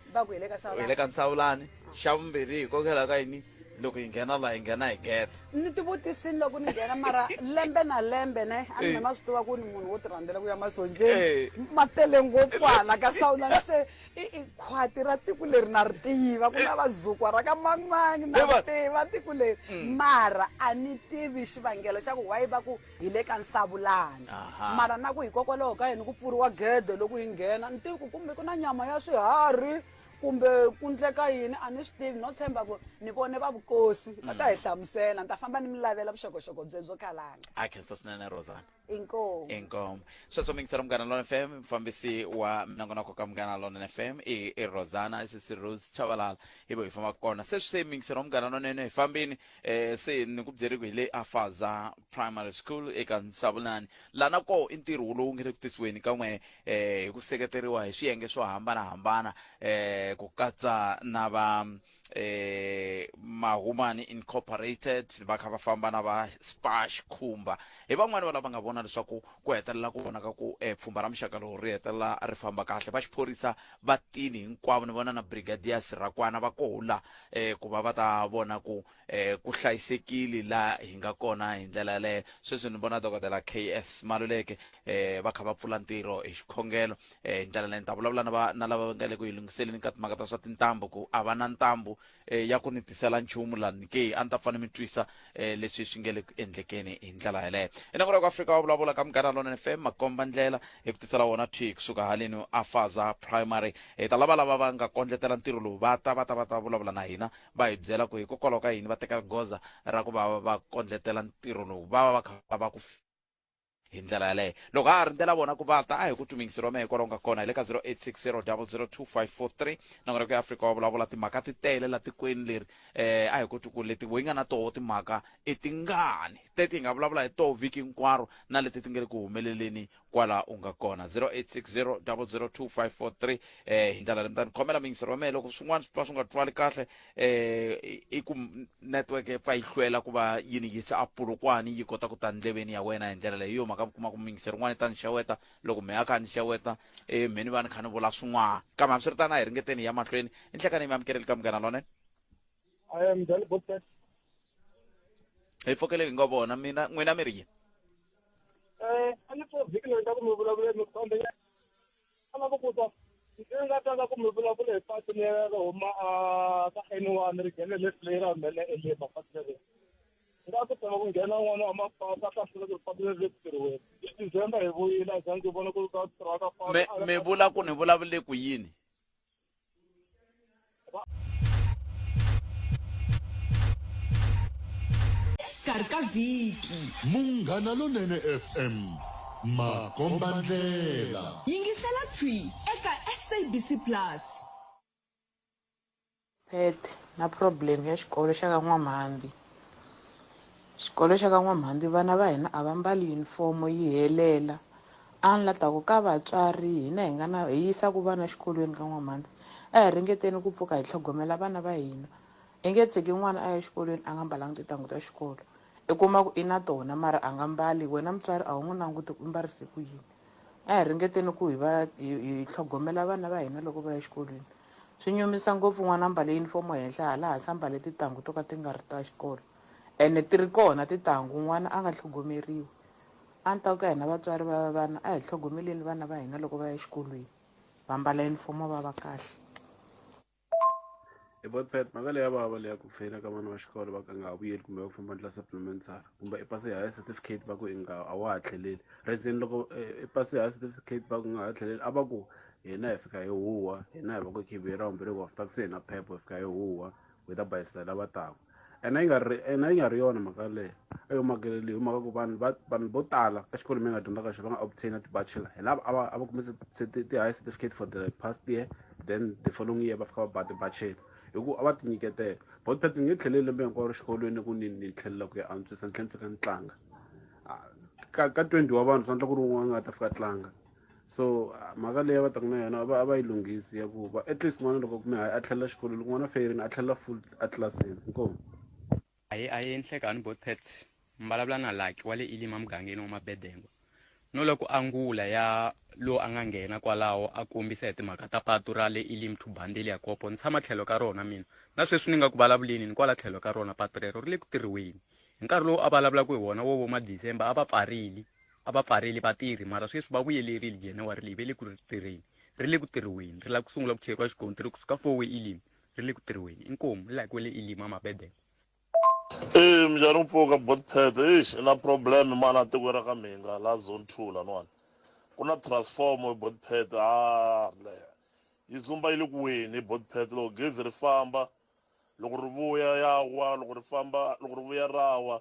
hi le ka nsavulani xa vumbirhi hikokwalaho ka yini loko hi nghena laha hi nghena hi gede ni tivutisini loko ni nghena mara lembe na lembe ne a ni eh. ma swi tiva ku ni munhu wo ti rhandzela ku ya masonjeni eh. ma tele ngopfu hala ka sawulani se i khwati ra tiko leri na ri tiva ku na eh. vazukwa ra ka mangmangi na ri tiva tiko leri mm. mara a ni tivi xivangelo xa ku wayi va ku hi le ka nsavulani mara na ku hikokwalaho ka yini ku pfuriwa gede loko hi nghena ni tivi ku kumbe ku na nyama ya swiharhi kumbe ku ndleka yini a ni swi tivi no tshemba ku ni vone va vukosi va ta hi mm. hlamusela ni ta famba ni mi lavela vuxokoxoko bye byo khalanga a khensa swinene rosana inkomu inkomu sweswo mi ngisela munghana lona fm mfambisi wa minongonoko ka munghana lona fm i, i rosana sisi rose chavalala hi vo hi fambaka kona se swi se mi ngisela munghana lonene hi fambini eh, se ni ku byeriku hi le afaza primary school eka nsavulani lana ko i ntirho lowu nge le ku tisiweni ka n'we eh, hi ku seketeriwa hi swiyenge swo hambana-hambana eh, ku katsa na va eh, mahumani incorporated va kha va famba na va spash khumba hi van'wani va lava nga vona leswaku ku hetelela ku vonaka ku eh, pfhumba ra muxaka lowu ri hetelela ri famba kahle va xiphorisa va tini hinkwavo ni vona na brigadier sirakwana va kola eh, ku va va ta vona ku eh ku hlayisekile la hi nga kona hi ndlela yaleyo sweswi ni vona dokodela ks maluleke eh va kha va pfula ntirho hi xikhongelo eh hi ndlela leyi ni ta vulavula na va- na lava va nga le ku yi lunghiseleni ka timhaka ta swa tintambu ku a va na ntambu eh ya ku ni tisela nchumu la ni ke a ni ta fane mi twisa eh leswi swi nge le ku endlekeni hi ndlela yaleyo enako loko afrika wa vulavula ka mugana lona fm makomba ndlela hi ku tisela wona thi kusuka haleni afaza primary hi ta lava lava va nga kondletela ntirho lowu va ta va ta va ta vulavula na hina va hi byela ku hikokwalaho ka yini va teka goza ra ku va va kondletela ntirho lowu va va va kha va ku hi ndlela yaleyo loko ha ha rindzela vona ku va ta a hi ku tshumingisi rome hikwalaho nga kona hi le ka 0860002543 nongonoko ya afrika wa vulavula timhaka ti tele la tikweni leri eh a hi ku ku leti wo yi nga na toho timhaka i tingani teti hi nga vulavula hi toho vhiki hinkwaro na leti ti nga le ku humeleleni kwala u nga kona 0860002543 eh hi ndlela leyi mtani khomela mingisero wa mehe loko swin'wana swi pfa swi nga twali kahle eh i- i ku m- network yi pfa yi hlwela ku va yi ni yisa a pulukwani yi kota ku ta ndleveni ya wena hi ndlela leyi hi yo mhaka mi kuma ku mingisero n'wana yi ta ni xeweta loko mehe a kha a ni xeweta eh mheni va ni kha ni vula swin'wana kambe hambiswiritana hi ringeteni hi ya mahlweni i nhlekani yi mi amukeleli ka munghana lonene I am Dali Botet. hi fokeleli hi ngo vona mina n'wina mi ri yini Eh, a ni pfuna vhiki leyi ta ku mi vulavula mi khombe ya a lava ku ta ndzi nga tanga ku mi vulavula hi pasi leri ri huma a ka N one ri nghene left leyi ra humelela eleba pasi leri nga ku tanga ku nghena n'wana wa mapasi a hlasela ku ri pasi leri ri pfuriweni hi December hi vuyile a za ndzi vona ku ri ka tirhaka pasi mi mi vula ku ni vulavule ku yini xikarhi ka vhiki munghana lonene fm makombandlela yingisela thwi eka sabc plus pet na problem ya xikolo xa ka n'wamhambi xikolo xa ka n'wamhambi vana va hina a va mbali yunifomo yi helela Anla ta ku, Ka vatswari, hina hi nga na, hi yisaka vana xikolweni ka n'wamhana, a hi ringeteni ku pfuka hi tlhogomela vana va hina. I nge tshiki n'wana a ya xikolweni a nga mbalanga tintangu ta xikolo. I kuma ku i na tona mara a nga mbali, wena mutswari a wu n'wi languti ku u mbarise ku yini. A hi ringeteni ku hi va, hi, hi tlhogomela vana va hina loko va ya xikolweni. Swi nyumisa ngopfu n'wana a mbale yunifomo henhla hala hansi a mbale tintangu to ka ti nga ri ta xikolo. Ene ti ri kona tintangu, n'wana a nga tlhogomeriwi. A ni ta ku ka hina vatswari va vana a hi tlhogomeleni vana va hina loko va ya exikolweni va mbala yunifomo va va kahle e botpet mhaka leyi ya vava leyi ya ku feyila ka vana va xikolo va ka nga ha vuyeli kumbe va ku famba ndla supplementary kumbe i pasi higher certificate va ku i nga a wa ha tlheleli reason loko i pasi higher certificate va ku nga ha tlheleli a va ku hina hi fika hi huwa hina hi va ku khiviye ra vumbirhi ku after ku se hina phepho hi fika hi huwa whether by sela va taku ena yi nga ri ena yi nga ri yona mhaka leyi a yo makele leyi hi mhaka ku vanhu va vanhu vo tala exikolweni mi nga dyondzaka xo va nga obtaina ti-bachelor hi lava a va a va kume ti-high certificate for the past year then the following year va fika va ba ti-bachelor hi ku a va tinyiketela but phethe ni nge tlheleli lembe hinkwaro xikolweni ku ni ni tlhelela ku ya antswisa ni tlhela ni fika ni tlanga ka ka twenty wa vanhu swi endla ku ri wun'wana a nga ta fika a tlanga so mhaka leyi va taka na yona va a va yi lunghisi ya ku va at least n'wana loko kume hayi a tlhelela xikolo loko n'wana feyerini a tlhelela full etlilasini inkomu hayi a yi endlekani both pets mbalavula na laki wa le ilima mugangeni wa mabedengwa no loko angula ya lowu a nga nghena kwalaho a kombisa hi timhaka ta patu ra le ilim to bandeli ya kopo ni tshama tlhelo ka rona mina na sweswi ni nga ku vulavuleni ni kwala tlhelo ka rona patu rero ri le ku tirhiweni hi nkarhi lowu a vulavulaka hi wona wo vo madecember a va pfarile a va pfarile vatirhi mara sweswi va vuyelerile january leyi ve le ku ri tirheni ri le ku tirhiweni ri lava ku sungula ku cheriwa xikontiri kusuka four way elim ri le ku tirhiweni inkomu like we le elim amabedele Eh mjhani mpfuka bot pet eish i na problem mana tiko ra ka mhinga la zone 2 lanwani ku na transformer hi bot pet a le yi zumba yi le ku weni hi bot pet loko gezi ri famba loko ri vuya ya wa loko ri famba loko ri vuya ra wa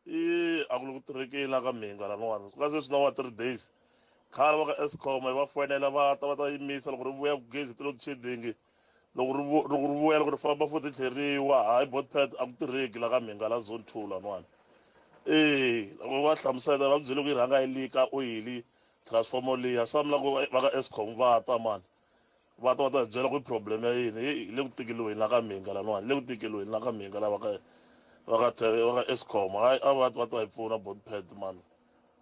i a ku le ku tirhekeni la ka mhinga laniwani ku nga sweswi na wa three days khale va ka escom hi va foyinela va ta va ta yimisa loko ri vuya ku gezi ti load shedding loko ri loko ri vuya loko ri famba futhi tlheriwa hayi botpad a ku tirheki la ka mhinga la zone two laniwani ee loko va hlamusela va ku byele ku yi rhanga yi lika oyili transformer liya samla ku va ka escom va ta mani Va ta va ta hi byela ku i problem ya yini, heyi hi le ku tikeliweni la ka Mhinga laniwani, hi le ku tikeliweni la ka Mhinga la va ka va ka va ka Eskom hayi a va va ta hi pfuna bot pad mani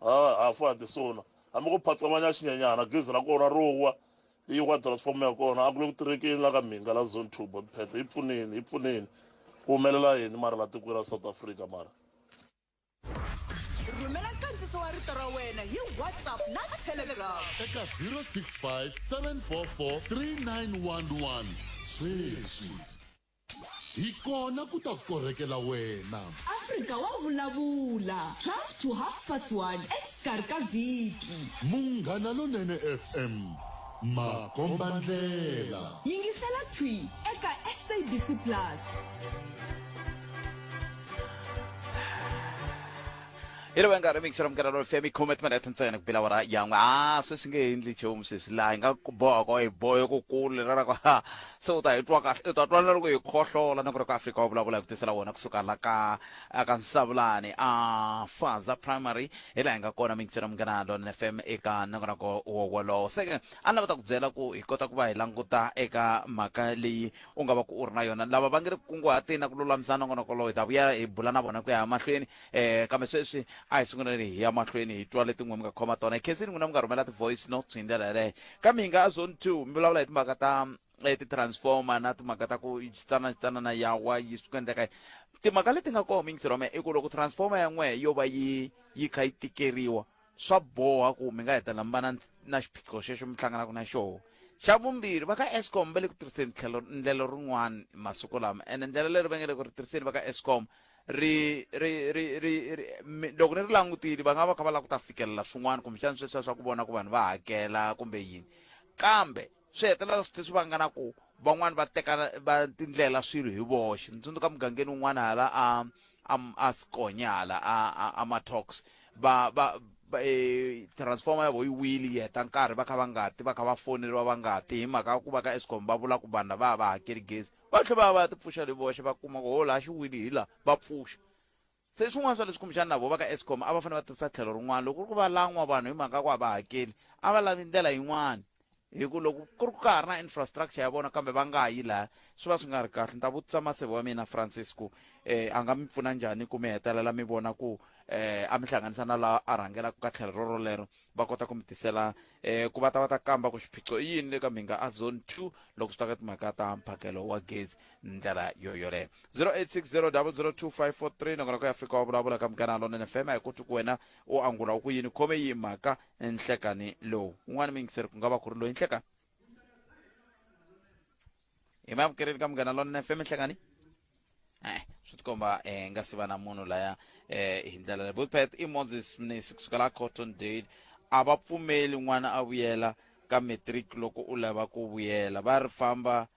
ha ha fa ha ti sona hambi ko phatsamanya xinyenyana gezi ra kona ro wa yi wa transformer ya kona a ku le ku tirhekeni la ka Mhinga la zone two bot pad hi pfuneni hi pfuneni ku humelela yini mara la tikweni ra South Africa mara. rhumela nkandziso wa rito ra wena hi whatsapp na telegram eka 065 744 3911 sweswi hi kona ku ta korhekela wena afrika wa vulavula 12 to half past 1 exikarhi ka vhiki munghana lonene fm makombandlela yingisela thwi eka sabc plus ilovanga remix ra mugara ro femi khume timinete ntsena ku pila wara yan'we a sweswi nge endli nchumu sweswi laha hi nga boha ko hi bohe ku kulu lera ra ku ha se u ta hi twa kahle u ta twa na loko hi khohlola na ku ri ku afrika wa vulavula hi ku tisela wona kusuka la ka ka nsavulani a faza primary hi laha hi nga kona mixi ra mugana lona f m eka nongonoko wowolowo se ke a ni lava ta ku byela ku hi kota ku va hi languta eka mhaka leyi u nga va ku u ri na yona lava va nge ri kunguhateni na ku lulamisana nongonoko lowu hi ta vuya hi bula na vona ku ya mahlweni um kambe sweswi a hi sunguleni hi ya mahlweni hi twa letin'we mi nga khoma tona hi khensini n'wina mi nga rhumela ti-voice notes hi ndlela yeleyo ka mi hi nga a zone two mi vulavula hi timhaka ta eh, ti-transformer na timhaka ta ku xitsana xitsanana yawa yi swi ku endleka timhaka leti nga kona mingisirhome i ku loko transformer ya n'wehe yo va yi yi kha yi tikeriwa swa boha ku mi nga hetelela mi va na na xiphiqo xexo mi hlanganaka na xoho xa vumbirhi va ka escom va le ku tirhiseni tlhelo ndlela rin'wana masiku lama ene ndlela leri va nge le ku ri tirhiseni va ka escom ri ri ri ri loko ni ri langutile va nga va kha va lava ku ta fikelela swin'wana kumbexana sweswiya swa ku vona ku vanhu va hakela kumbe yini kambe swi hetelela swi tlhe swi vanga na ku van'wani va teka va tindlela swilo hi voxe ni tsundzuka mugangeni wun'wana hala a a a sikonya hala a a, a matox va va va, eh, transformer ya vo yi wili yi heta nkarhi va kha va nga ti va kha va foneriwa va nga ti hi mhaka ya ku va ka escom va vula ku vanhu lava a va hakeli gezi va tlhe va ya va ya ti pfuxa le voxe va kuma ku ho laha xi wili hi laha va pfuxa se swin'wana swa leswi kumbexana na vo va ka escom a va fanele va tirhisa tlhelo rin'wana loko ku ri ku va lan'wa vanhu hi mhaka ya ku a va hakeli a va lavi ndlela yin'wana hi ku loko ku ri ku ka ha ri na infrastructure ya vona kambe va nga yi laha swi va swi nga ri kahle ni ta vutisa maseve wa mina francis ku eh a nga mi pfuna njhani ku mi hetelela mi vona ku eh a mi hlanganisa na laha a rhangelaka ka tlhelo rorolero va kota ku mi tisela eh ku va ta va ta kamba ku xiphiqo i yini le ka mhinga a zone two loko swi ta ka timhaka ta mphakelo wa gezi ndlela yo yoleyo zero eight six zero double zero two five four three nakona ku ya fika wa vulavula ka munghana lonene fm a hi koti ku wena u angula u ku yini khome yi mhaka nhlekani lowu un'wana mi yingiseri ku nga va ku ri loyi nhlekani hi mavukereli ka munghana lonene fm hlekani eh swi tikomba eh nga si va na munhu laya eh hi ndlela leyi boothpath i moses mnisi kusuka la cotton dale a va pfumeli n'wana a vuyela ka matric loko u lava ku vuyela va ri famba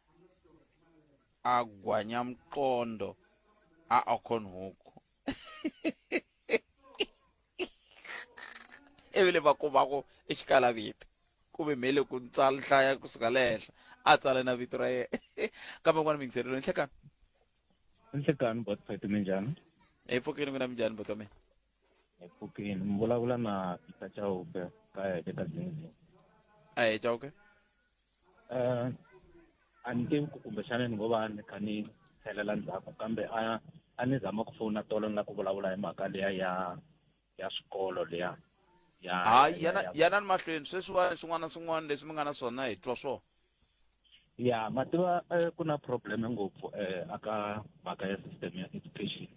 a gwanya mqondo a okhonhuku evile va kumaku exikala vito ku ve mhele ku tsala hlaya kusuka le henhla a tsala na vito ra yena kambe n'wana minghiselelo nhlekani nhlekani bot fete minjhani hi pfukeni n'wina minjhani boto mina hi pfukeni mi vulavula na peter chauke ka heke ka zinzi a hi chauke Uh, a ni tivi ku kumbexana ni ngo va ni kha ni tlhelela ndzhaku kambe a a ni zama ku fona tolo ni la ku vulavula hi mhaka leya ya ya swikolo leya ya hayi yana yana ni mahlweni sweswiwani swin'wana na swin'wana leswi mi nga na swona hi twa swona ya ma tiva eh, ku na problem ngopfu um aka mhaka ya system ya education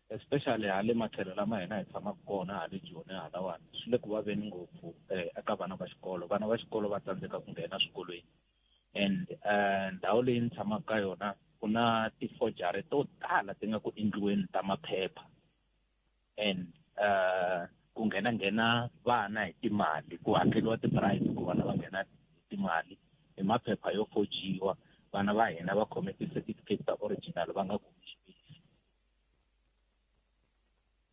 especially hale matlhelo lama hina hi tshamaka kona hale joni halawani swi le ku vaveni ngopfu um eka vana va xikolo vana va xikolo va tsandzeka ku nghena swikolweni and um ndhawu leyi ni tshamaka ka yona ku na tifojari to tala ti nga ku endliweni ta maphepha and um ku nghena nghena vana hi timali ku hakeriwa tiprice ku vana va nghena hi timali hi maphepha yo fojiwa vana va hina va khome ti-certificate ta original va nga ku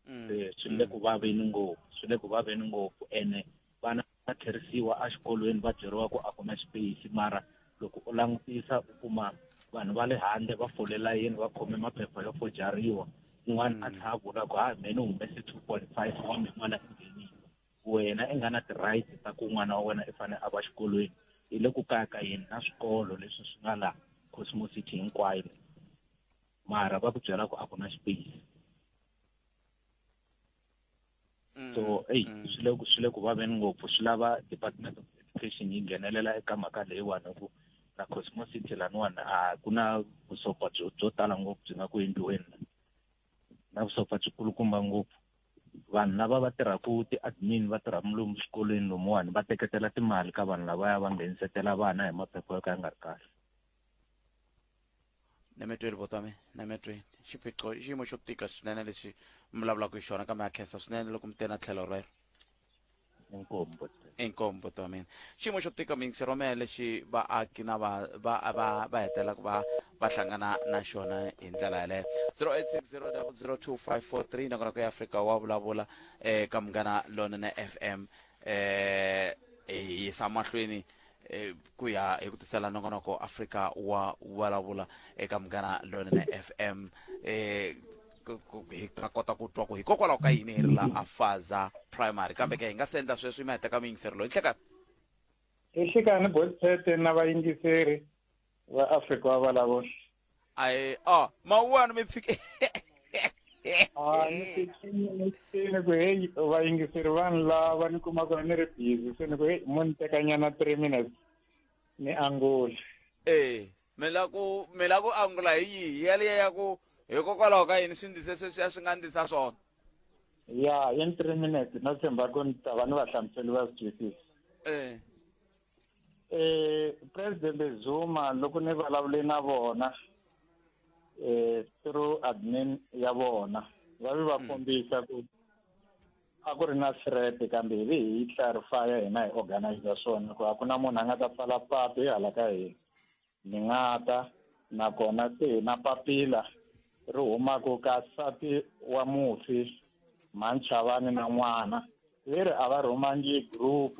mm. eh, swi le ku vaveni ngopfu swi le ku vaveni ngopfu ene vana va tlherisiwa exikolweni va byeriwa ku a kuma xipeyisi mara loko u langutisa u kuma vanhu va le handle va fole layeni va khome maphepha yo fojariwa un'wana a mm. tlha a vula ku ha mheni u humese two point five wa mi n'wana endleni wena i nga na ti-right ta ku n'wana wa wena i fanele a va xikolweni hi le ku kaya ka yini na swikolo leswi swi nga laha cosmosity hinkwayo mara va ku byela ku a ku na space mm, so eyi mm. swi le ku swi le ku vaveni ngopfu swi lava department of education yi nghenelela eka mhaka leyiwani hi ku na cosmos city laniwani a ku na vusopfa byo byo tala ngopfu byi nga ku endliweni na vusopfa byi kulukumba ngopfu vanhu lava va tirhaka ti-admin va tirha mulumu swikolweni lomuwani va teketela timali ka vanhu lavaya va nghenisetela vana hi maphepha yo ka ya nga ri kahle nemetweni vo tami nemetweni xiphiqo i xiyimo xo tika swinene lexi mi vulavulaka hi xona kambe ha khensa swinene loko mi te na tlhelo rero inkomu buti wa mina xiyimo xo tika mingisiromela lexi vaaki na va va va va hetelelaka va va hlangana na xona hi ndlela yaleyo 0860002543 nakona ku ya afrika wa vulavula eka eh, munghana lonene fm um hi yisa mahlweni e, ku ya hi ku tisela nongonoko afrika wa vulavula eka munghana lonene fm e, hi ta kota ku twa ku hikokwalaho ka yini hi ri la afaza primary kambe ke hi nga se endla sweswi yi ma heteka muyingiseri loyi nhlekani hi hlekani bosete na vayingiseri va afrika wa vulavula ayi oh mawuwani mi fike Ah, ni fikile ni fikile ku heyi vayingiseri vanhu lava ni kumaka ni ri busy se ni ku heyi mo ni tekanyana three minutes ni angula eh mi la ku mi la ku angula hi yihi yaliya ya ku hikokwalaho ka yini swi ndlise sweswi a swi nga ndlisa swona ya in three minutes no tshemba ku ni ta va ni vahlamuseli va swi twisisa eh eh president Zuma loko ni vulavule na vona eh through admin ya vona va vi va hmm. kombisa ku a ku ri na threat kambe hi vi hi clarify hina hi organizer swona ku a ku na munhu a nga ta pfala patu hi hala ka hina Ni nga ta nakona se hi na papila ri humaka ka nsati wa mufi Manchavani na n'wana leri a va rhumangi group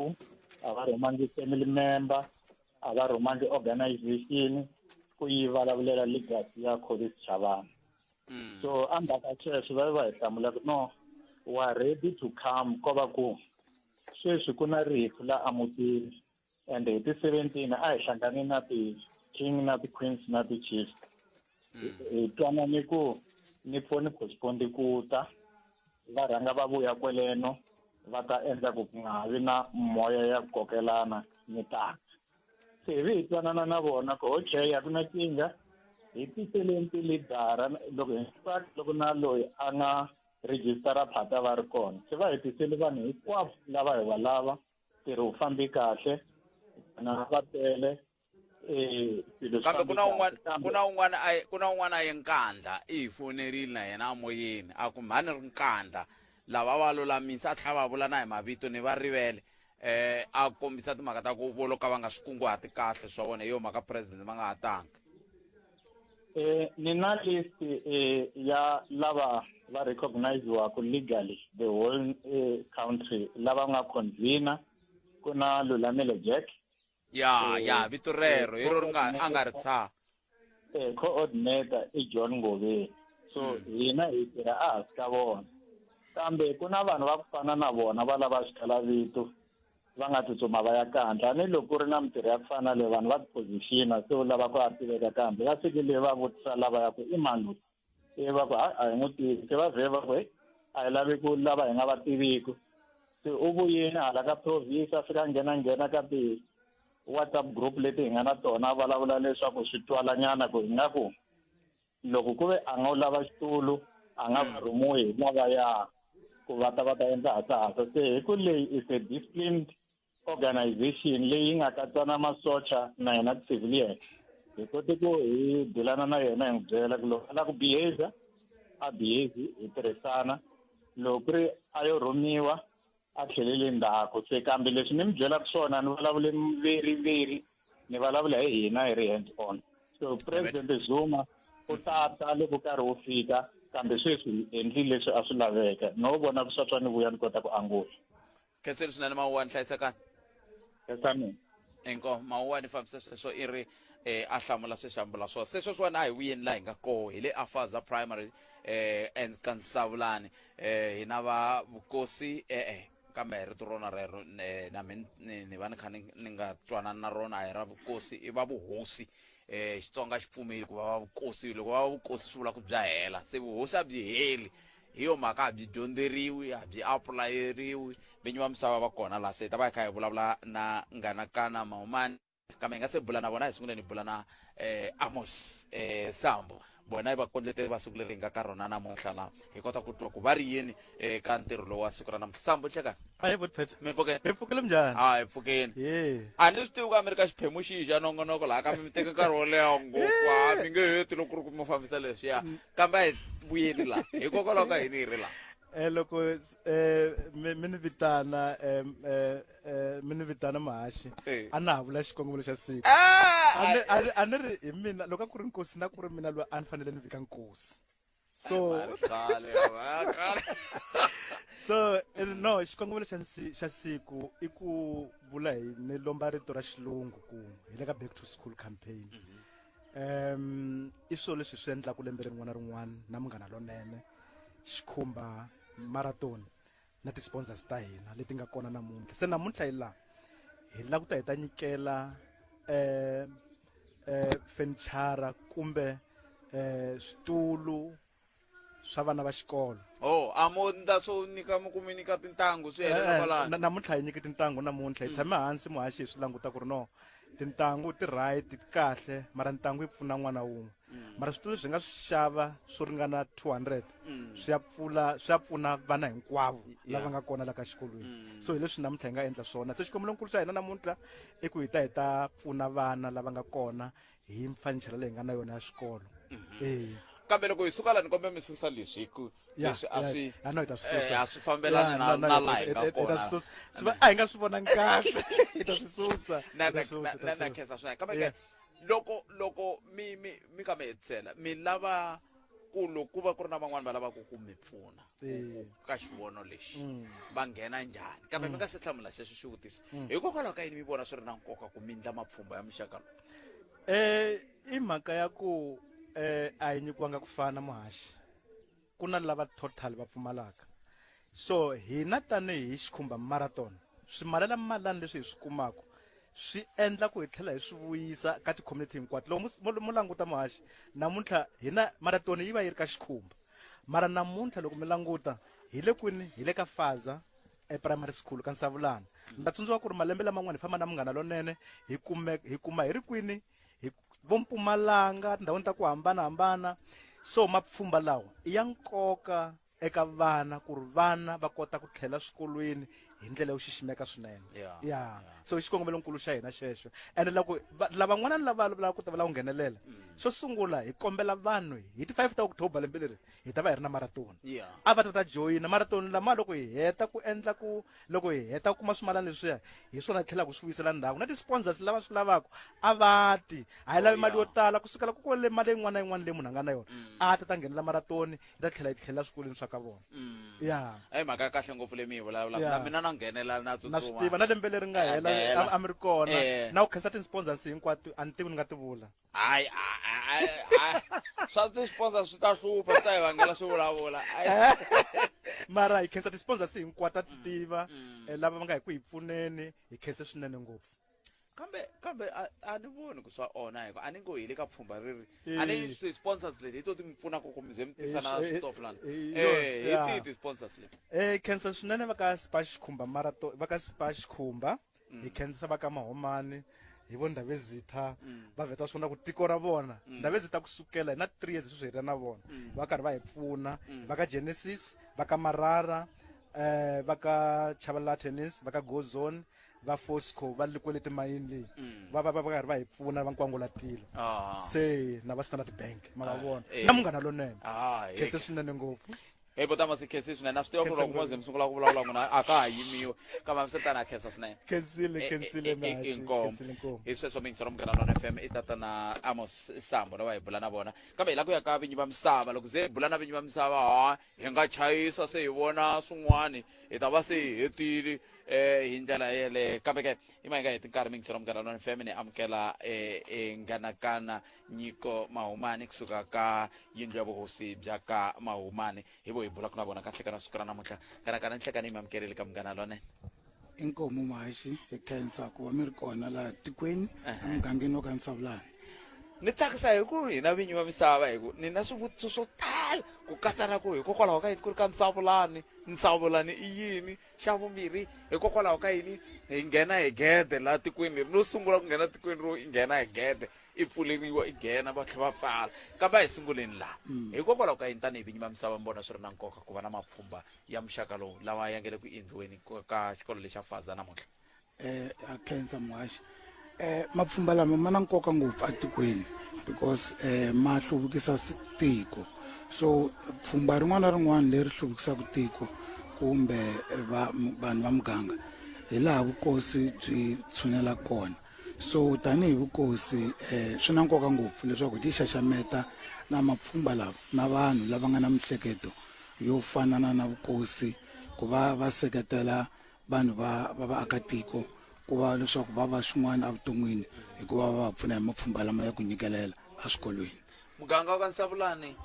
a va rhumangi family member a va rhumangi organization ku yi vulavulela legacy ya Collins Chavani hmm. so endzhaku ka sweswo va va hi hlamula ku no wa ready to come ko va ku sweswi ku na rifu la amutini and hi ti 17 a hi hlangane na ti-king na ti-queens na ti-chiefs hmm. hi twanane ku ni pfo ni postpondi ku ta va rhanga va vuya kweleno va ta endla ku ku nga ha vi na moya ya ku kokelana ni taka se hi vi hi twanana na vona ku okay a ku na kinga hi tiseleni tilidara loko hinkwako loko na loyi a nga rejistara phata va ri kona se va hi tiseli vanhu hinkwavo lava hi va lava ntirho wu fambi kahle na va tele eh, kambe ku na un'wana ku na un'wana a ku na un'wana a ye nkandla i hi fonerile na yena amoyeni a ku mhani ri nkandla lava va lulamisa a tlhela va vula na hi mavito ni va rivele eh a kombisa timhaka ta ku volo ka va nga swi kunguhati kahle swa vona hi yo mhaka president va nga ha tanga Eh, ni na list eh, ya lava va recogniziwaku legally the whole eh, country lava nga convener ku na lulamile jack ya ya vito rero hi ro ri nga a nga ri tshaha eh, coordinator i john ngoveni so hina hi tirha a hansi ka vona kambe ku na vanhu va ku fana na vona va lava swikalavito va nga tsutsuma va ya kandla a ni loko ku ri na mintirho ya ku fana na leyi vanhu va tiphozixina se u lava ku ya tiveka kambe va fike leyi va vutisa lava ya ku i mani loyi ivi va ku hayi a hi n'wi tivi se va vhe va ku heyi a hi lavi ku lava hi nga va tiviki se u vuyini hala ka province a fika nghena nghena ka ti whatsapp group leti hi nga na tona a vulavula leswaku swi twalanyana ku hi nga ku loko ku ve a nga u lava xitulu a nga va rhumiwi hi lavaya ku va ta va ta endla hasahasa se hi ku leyi is a disciplined organization leyi nga katsana masocha na yena civilian hi kote ku hi bulana na yena hi n'wi byela ku loko a lava ku behavior a behave hi tirhisana loko ku ri a yo rhumiwa a tlhelele ndzhaku se kambe leswi ni mi byelaka swona ni vulavule veri veri ni vulavula hi hina hi ri hands on so president zuma u tata loko karhi wu fika kambe sweswi hi endlile leswi a swi laveka no vona ku swa swa ni vuya ni kota ku angula khenseli swinene mawuwani hlayisekani esaneni inkoh mawuwani fambisa sweswo i ri eh, a hlamula sweswi ambula swona se sweswiwani a hi vuyeni laha hi nga koho hi le afaza primary eh, and ka nsavulani eh, hi na va vukosi e-e kambe rito rona rero eh, na mi ni va ni kha ni nga twanani na rona a hi ra vukosi i va vuhosi eh Xitsonga xi pfumeli ku va vukosi loko va vukosi swi vula ku bya hela se vuhosi a byi heli hi yo mhaka a byi dyondzeriwi a byi apulayeriwi vinyi va misava va kona la se ta va hi kha hi vulavula na nganakana mahumani kambe hi nga se bula na vona hi sungule ni bula na eh Amos eh Sambo vona i vakondleteri va siku leri hi nga ka rona namuntlha laha hi kota ku twa ku va ri yini eka eh, ntirho lowu wa siku ra namuntlha sambo hleka a hi vutiphetsa mi pfukeni hi pfukile njhani a hi pfukeni a ni swi tivi ku a mi ri ka xiphemu xihi xa nongonoko laha ka mi mi teka nkarhi wo leha ngopfu a mi nge heti loko ku ri ku mi fambisa leswiya mm. kambe a hi vuyeli laha hikokwalaho ka hini hi ri laha um loko um mi ni vitana um eh mi ni vitana mahaxi Eh. a na ha vula xikongomelo xa siku Ah, A ni- a ni- a ni ri hi mina loko a ku ri nkosi na ku ri mina loyi a ni fanele ni vika nkosi so khale, ah, khale. so eh, no xikongomelo xa nsi- xa siku i ku vula hi ni lomba rito ra xilungu ku hi le ka back to school campaign um i swilo leswi swi endlaka lembe rin'wana na rin'wana na munghana lonene xikhumba marathon na ti-sponsors ta hina leti nga kona namuntlha se namuntlha hi laha hi lava ku ta hi ta nyikela eh eh fenichara kumbe eh switulu swa vana va xikolo oh a mo nda so nyika mi kumi nyika tintangu swi helela Eh, kwalano na- namuntlha hi nyike tintangu namuntlha hi tshame hansi muhaxi hi swi languta ku ri no tintangu ti right ti kahle mara ntangu yi pfuna n'wana wun'we mara switulu leswi hi nga swi xava swo ringana 200 swi ya pfula swi ya pfuna vana hinkwavo lava nga kona la ka xikolweni so hi leswi namuntlha hi nga endla swona se xikombelokulu xa hina namuntlha i ku hi ta hi ta pfuna vana lava nga kona hi mfanichela leyi nga na yona ya xikolo eya kambe loko hi suka la ni kombela mi susa leswi hi ku Ya, leswi a ya, swi ya, no, hi ta swi susa. eh, a swi fambelani Ya, na no, no, na hi ta- laha hi hi ta- nga hi ta kona swi susa. Swi va- a hi nga swi vonangi kahle hi ta swi susa na hi ta na swi susa, hi ta na swi na susa. khensa swinene kambe Yeah. ke loko loko mi mi mi ka mi hetisela mi lava ku loko ku va ku ri na van'wani va lavaka ku mi pfuna ku- ku- ka xivono lexi va nghena njhani kambe mi nga se hlamula sweswo xivutiso hikokwalaho ka yini mi vona swi ri na nkoka ku mi ndla mapfhumba ya muxaka lowu Eh i mhaka ya ku eh a hi nyikiwanga ku fana muhaxi. ku na lava total va pfumalaka so hina tanihi xikhumba marathon swimalela malani leswi hi swi kumaka swi endla ku hi tlhela hi swi vuyisa ka ti-community hinkwato loko mo languta muhaxi namuntlha hina maratoni yi va yi ri ka xikhumba mara namuntlha loko mi languta hi le kwini hi le ka faza eprimary school ka nsavulana mi ta tsundzuka ku ri malembe laman'wana hi famba na munghana lonene hi kume hi kuma hi ri kwini hi vo mpumalanga tindhawini ta ku hambanahambana so mapfhumba lawa i ya nkoka eka vana ku ri vana va kota ku tlhela swikolweni hi ndlela yo xiximeka swinene Yeah, ya yeah. so i xikongomelonkulu xa hina xexo ene loko va- lavan'wana ni lava lavaka ku ta va lava ku nghenelela xo sungula hi kombela vanhu hi ti 5 ta october lembe leri hi ta va hi ri na maratoni yeah. a va ta ta joyina maratoni lama loko hi heta ku endla ku loko hi heta ku kuma swimalana leswiya hi swona hi tlhelaka swi vuyisela ndhawu na ti-sponsors lava swi lavaka a va ti a hi lavi oh, mali yo tala ku sukela ku ku le mali yin'wana na yin'wana leyi munhu a nga na yona mm. a ta ta nghenela maratoni yi ta tlhela yi tlhelela swikolweni swa ka vona mm. ya eyi mhaka ya kahle ngopfu leyi mi yi vulavulaka na mina na nghenela na na swi tiva na lembe leri nga hela a mi ri kona eh. na ku khensa ti-sponsors hinkwato a ni tivi ni nga ti vula hayi swa ti sponsor swi ta hlupha swi ta hi vangela swi vulavula mara hi khensa ti-sponsors hinkwato ti mm, tiva mm. Eh, lava va nga hi ku hi pfuneni hi khense swinene ngopfu kambe kambe a ni voni ku swa ona hikuva a ni ngo hi le ka pfhumba ri ri eh. a ni ti-sponsors leti hi to ti mi pfunaka ku mi ze mi tisa na eh, switofu lana hi tihi ti-sponsors leti um khensa swinene va ka sipa xikhumba marato va ka sipa xikhumba hi khendzisa va ka mahomani hi vo ndavezitha va vheta swona ku tiko ra vona ndavezitha kusukela hi na three years sweswi hi ri na vona va karhi va hi pfuna va ka genesis va ka marara eh va ka chabalala tennis va ka go zone va fosco va likwele timayini leyi va va va va karhi va hi pfuna va nkwangula tilo Ah. se na va standard bank ma va vona eh. na munghana lonene Ah, khese swinene ngopfu hi ku tama si khesi swinene a swi tiva ku ri loko moze mi sungula ku vulavula n'wina a ka ha yimiwi kambe mi swi tana khensa swinene khensile khensile i nkomo hi sweswo mi yingisela munghana lona fm i tatana amos sambo lava hi bula na vona kambe hi la ku ya ka vinyi va misava loko ze hi bula na vinyi va misava ha hi nga chayisa se hi vona swin'wani hi ta va se hi hetile um hi ndlela yeleyo kambe ke i ma hi nga heti nkarhi mi yingisela munghana lona fm ni amukela um e nganakana nyiko mahumani kusuka ka yindlu ya vuhosi bya ka mahumani hi vo hi bulaka na vona kahle kana siku ra namuntlha kana kana nhlekani yi mi amukerile ka munghana lonene inkomu mahaxi hi khensa ku va mi ri kona laha tikweni emugangeni wa ka nsavulani ni tsakisa hi ku hina vinyi va misava hi ku ni na swivutiso swo tala ku katsa na ku hikokwalaho ka yini ku ri ka nsavulani nsavulani i yini xa vumbirhi hikokwalaho ka yini hi nghena hi gede laha tikweni leri no sungula ku nghena tikweni ro nghena hi gede i pfuleriwa i nghena va tlhe va pfala kambe a hi sunguleni laha mm. hikokwalaho ka yini tanihi vinyi va misava mi vona swi ri na nkoka ku va na mapfhumba ya muxaka lowu lawa ya nge le ku endliweni ka xikolo lexa faza namuntlha um a khensa muhaxi um mapfhumba lama ma na nkoka ngopfu etikweni because um ma hluvukisa tiko so pfhumba rin'wana na rin'wana leri hluvukisaka tiko kumbe vanhu va muganga hi laha vukosi byi tshunela kona so tanihi vukosi eh, swi na nkoka ngopfu leswaku hi tixaxameta na mapfhumba lawa na vanhu lava nga na mihleketo yo fanana na vukosi ku va va seketela vanhu va va vaakatiko ku va leswaku va va swin'wana evuton'wini hikuva va va pfuna hi mapfhumba lama ya ku nyikelela eswikolweni muganga wa ka nsavulani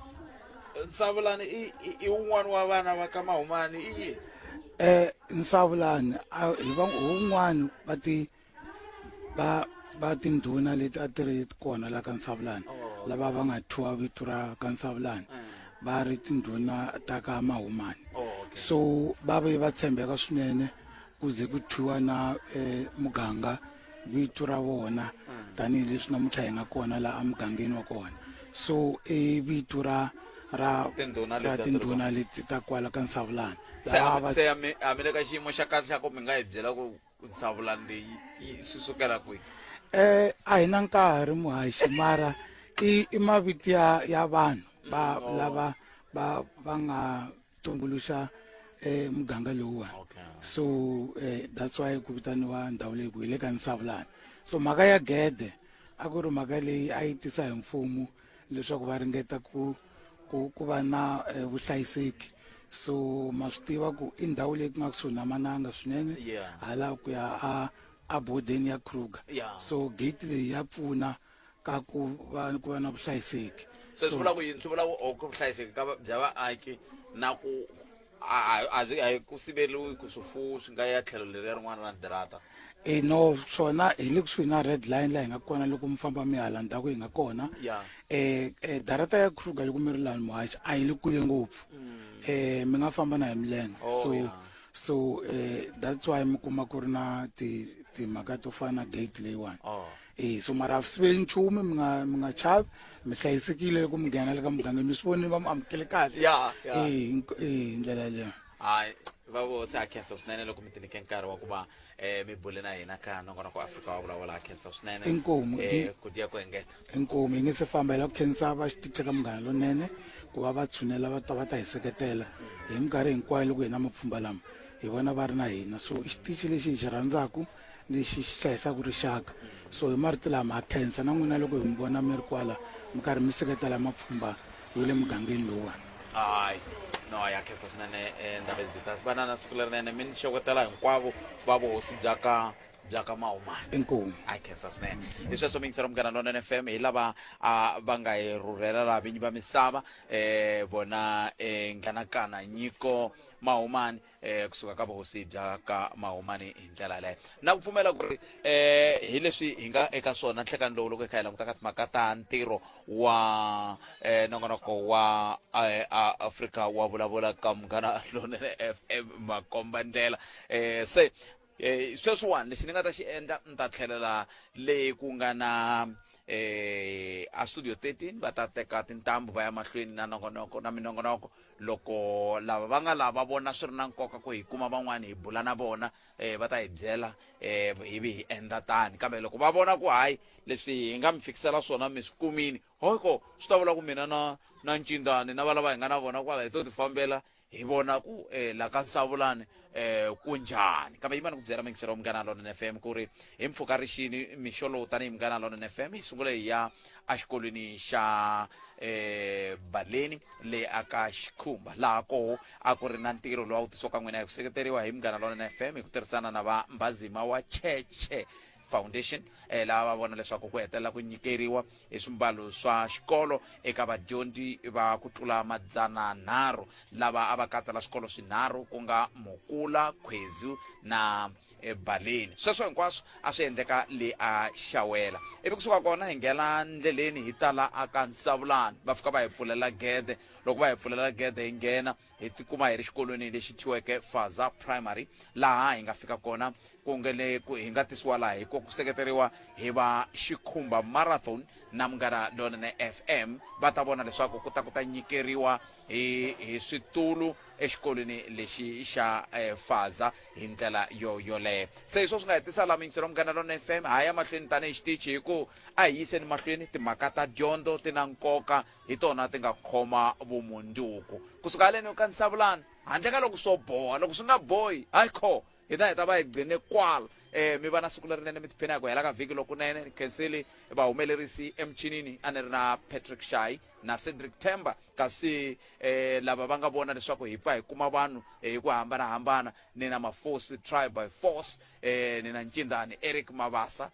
nsavulani i i- i wun'wana wa vana va ka mahumani i yini um nsavulani a- hi va- hi wun'wani va ti va va tindhuna leti a ti ri kona la ka nsavulani oh, lava va nga thyiwa vito ra ka nsavulani eh. va ri tindhuna ta ka mahumani oh, so va ve va tshembeka swinene ku ze ku thyiwa na um muganga vito ra vona eh. tanihileswi namuntlha hi nga kona laha emugangeni wa kona so i vito ra ra ra tindhuna leti ta kwala ka nsavulani se a mi le ka xiyimo xa kahle xa ku mi nga hi byela ku ku nsavula leyi yi swi sukela kwihi eh a hi na nkarhi muhaxi mara i i mavito ya ya vanhu va Mm, oh. lava va va nga tumbuluxa eh muganga lowuwani Okay. so eh that's why ku vitaniwa ndhawu leyi ku hi le ka nsavulana so mhaka ya gede a ku ri mhaka leyi a yi tisa hi mfumo leswaku va ringeta ku ku ku va na eh, vuhlayiseki so ma swi tiva ku i ndhawu leyi ku nga kusuhi na mananga swinene Yeah. hala ku ya a a bodeni ya kruger Yeah. so gate leyi ya pfuna ka ku va ku va na vuhlayiseki se swi vula ku yini swi vula ku o ku vuhlayiseki ka va- bya vaaki na ku a a- a byi- a hi ku siveriwi ku swifuwo swi nga ya tlhelo leriya rin'wana ra dirata e no swona hi le kusuhi na red line laha hi nga kona loko mi famba mi hala ndhaku hi nga kona Yeah. eh eh, darata ya kruger loko mi ri laha muhachi a yi le kule ngopfu eh mi nga famba na hi milenge Mm. Oh, so yeah. so eh that's why mi kuma ku ri na ti timhaka to fana na gate leyiwani Oh. e so mara a swi siveli nchumu mi nga mi nga chavi mi hlayisekile loko mi nghena le ka muganga mi swi vonile va mi amukele kahle ya ya e hi- e hi ndlela yaleyo hayi va vo se a khensa swinene loko mi tinike nkarhi wa ku va um mi bule na hina ka nongonoko wa afrika wa vulavula a khensa swinene Inkomu, um i- ku diya ku engeta inkomu yi nge se famba hi lava ku khensa va xitiche ka munghana lonene ku va va tshunela va ta va ta hi seketela hi minkarhi hinkwayo loko hina mapfhumba lama hi vona va ri na hina so i xitichi lexi hi xi rhandzaku lexi xi hlayisaka rixaka so hi marito lama ha khensa na n'wina loko hi mi vona mi ri kwala mi karhi mi seketela mapfhumba ya le mugangeni lowuwani hayi no ya khensa swinene eh, ndhawu ndzi ta va na na siku lerinene mi ni xewetela hinkwavo va vuhosi bya ka bya ka mahumana inkomu a khensa swinene hi sweswo mingisela munghana lonene f m hi lava a va nga hi rhurhela laha vinyi va misava um vona um nghanakana nyiko mahumani eh kusuka ka vuhosi bya ka mahumani hi ndlela yaleyo na ku pfumela ku ri eh hi leswi hi nga eka swona nhlekani lowu loko hi kha hi languta ka timhaka ta ntirho wa eh nongonoko wa eh, a- afrika wa vulavula ka munghana lonene fm makomba ndlela eh se Eh, sweswiwani lexi ni nga ta xi endla ni ta tlhelela le ku nga na eh a studio 13 va ta teka tintambu va ya mahlweni na nongonoko na minongonoko loko lava va nga lava vona swi ri na nkoka ku hi kuma van'wana hi bula na vona eh va ta hi byela eh hi vi hi endla tani kambe loko va vona ku hayi leswi hi nga mi fikisela swona mi swi kumini hoko swi ta vula ku mina na na ncindzani na valava hi nga na vona kwala hi to ti fambela hi vona ku eh, la ka nsavulani eh, ku njhani kambe yimani ku byela mingisero wa munghana lona fm ku ri hi mpfuka rixini mixo lowu tanihi munghana lona fm yi sungule hi ya exikolweni xa eh, baleni le aka xikhumba laha koho a ku ri na ntirho lowu a wu tisiwaka n'wina hi ku seketeriwa hi munghana lona fm hi ku tirhisana na va mbazima wa cheche Foundation laha va vona leswaku ku hetelela ku nyikeriwa hi swimbalo swa xikolo eka vadyondzi va ku tlula madzana nharhu lava a va katsa la swikolo swinharhu ku nga Mukula, Khwezu na ebaleni sweswo hinkwaswo a swi endleka le a xawela ivi kusuka kona hi nghena ndleleni hi ta la a ka nsavulani va fika va hi pfulela gede loko va hi pfulela gede hi nghena hi tikuma hi ri xikolweni lexi thyiweke faza primary laha hi nga fika kona ku nge le ku hi nga tisiwa laha hi ku seketeriwa hi va xikhumba marathon na munghana lonene fm va ta vona leswaku ku ta ku ta nyikeriwa hi hi switulu exikolweni lexi xa eh, faza hi ndlela yo yoleyo se hi swo swi nga hetisa la mingiselo munghana lonene fm ha ya mahlweni tanihi xitichi hi ku a hi yiseni mahlweni timhaka ta dyondzo ti na nkoka hi tona ti nga khoma vumundzuku kusuka haleni u kandzisa vulani handle ka loko swo boha loko swi nga bohi hayi kho hi ta hi ta va hi gcine kwala eh mi va na siku lerinene mi tiphina hi ku hela ka vhiki lokunene ni khenseli vahumelerisi emichinini a ni ri na patrick shy na cedric temba kasi eh lava va nga vona leswaku hi pfa hi kuma vanhu eh, hi ku hambanahambana ni na mafosi try by force eh ni na ncindani eric mavasa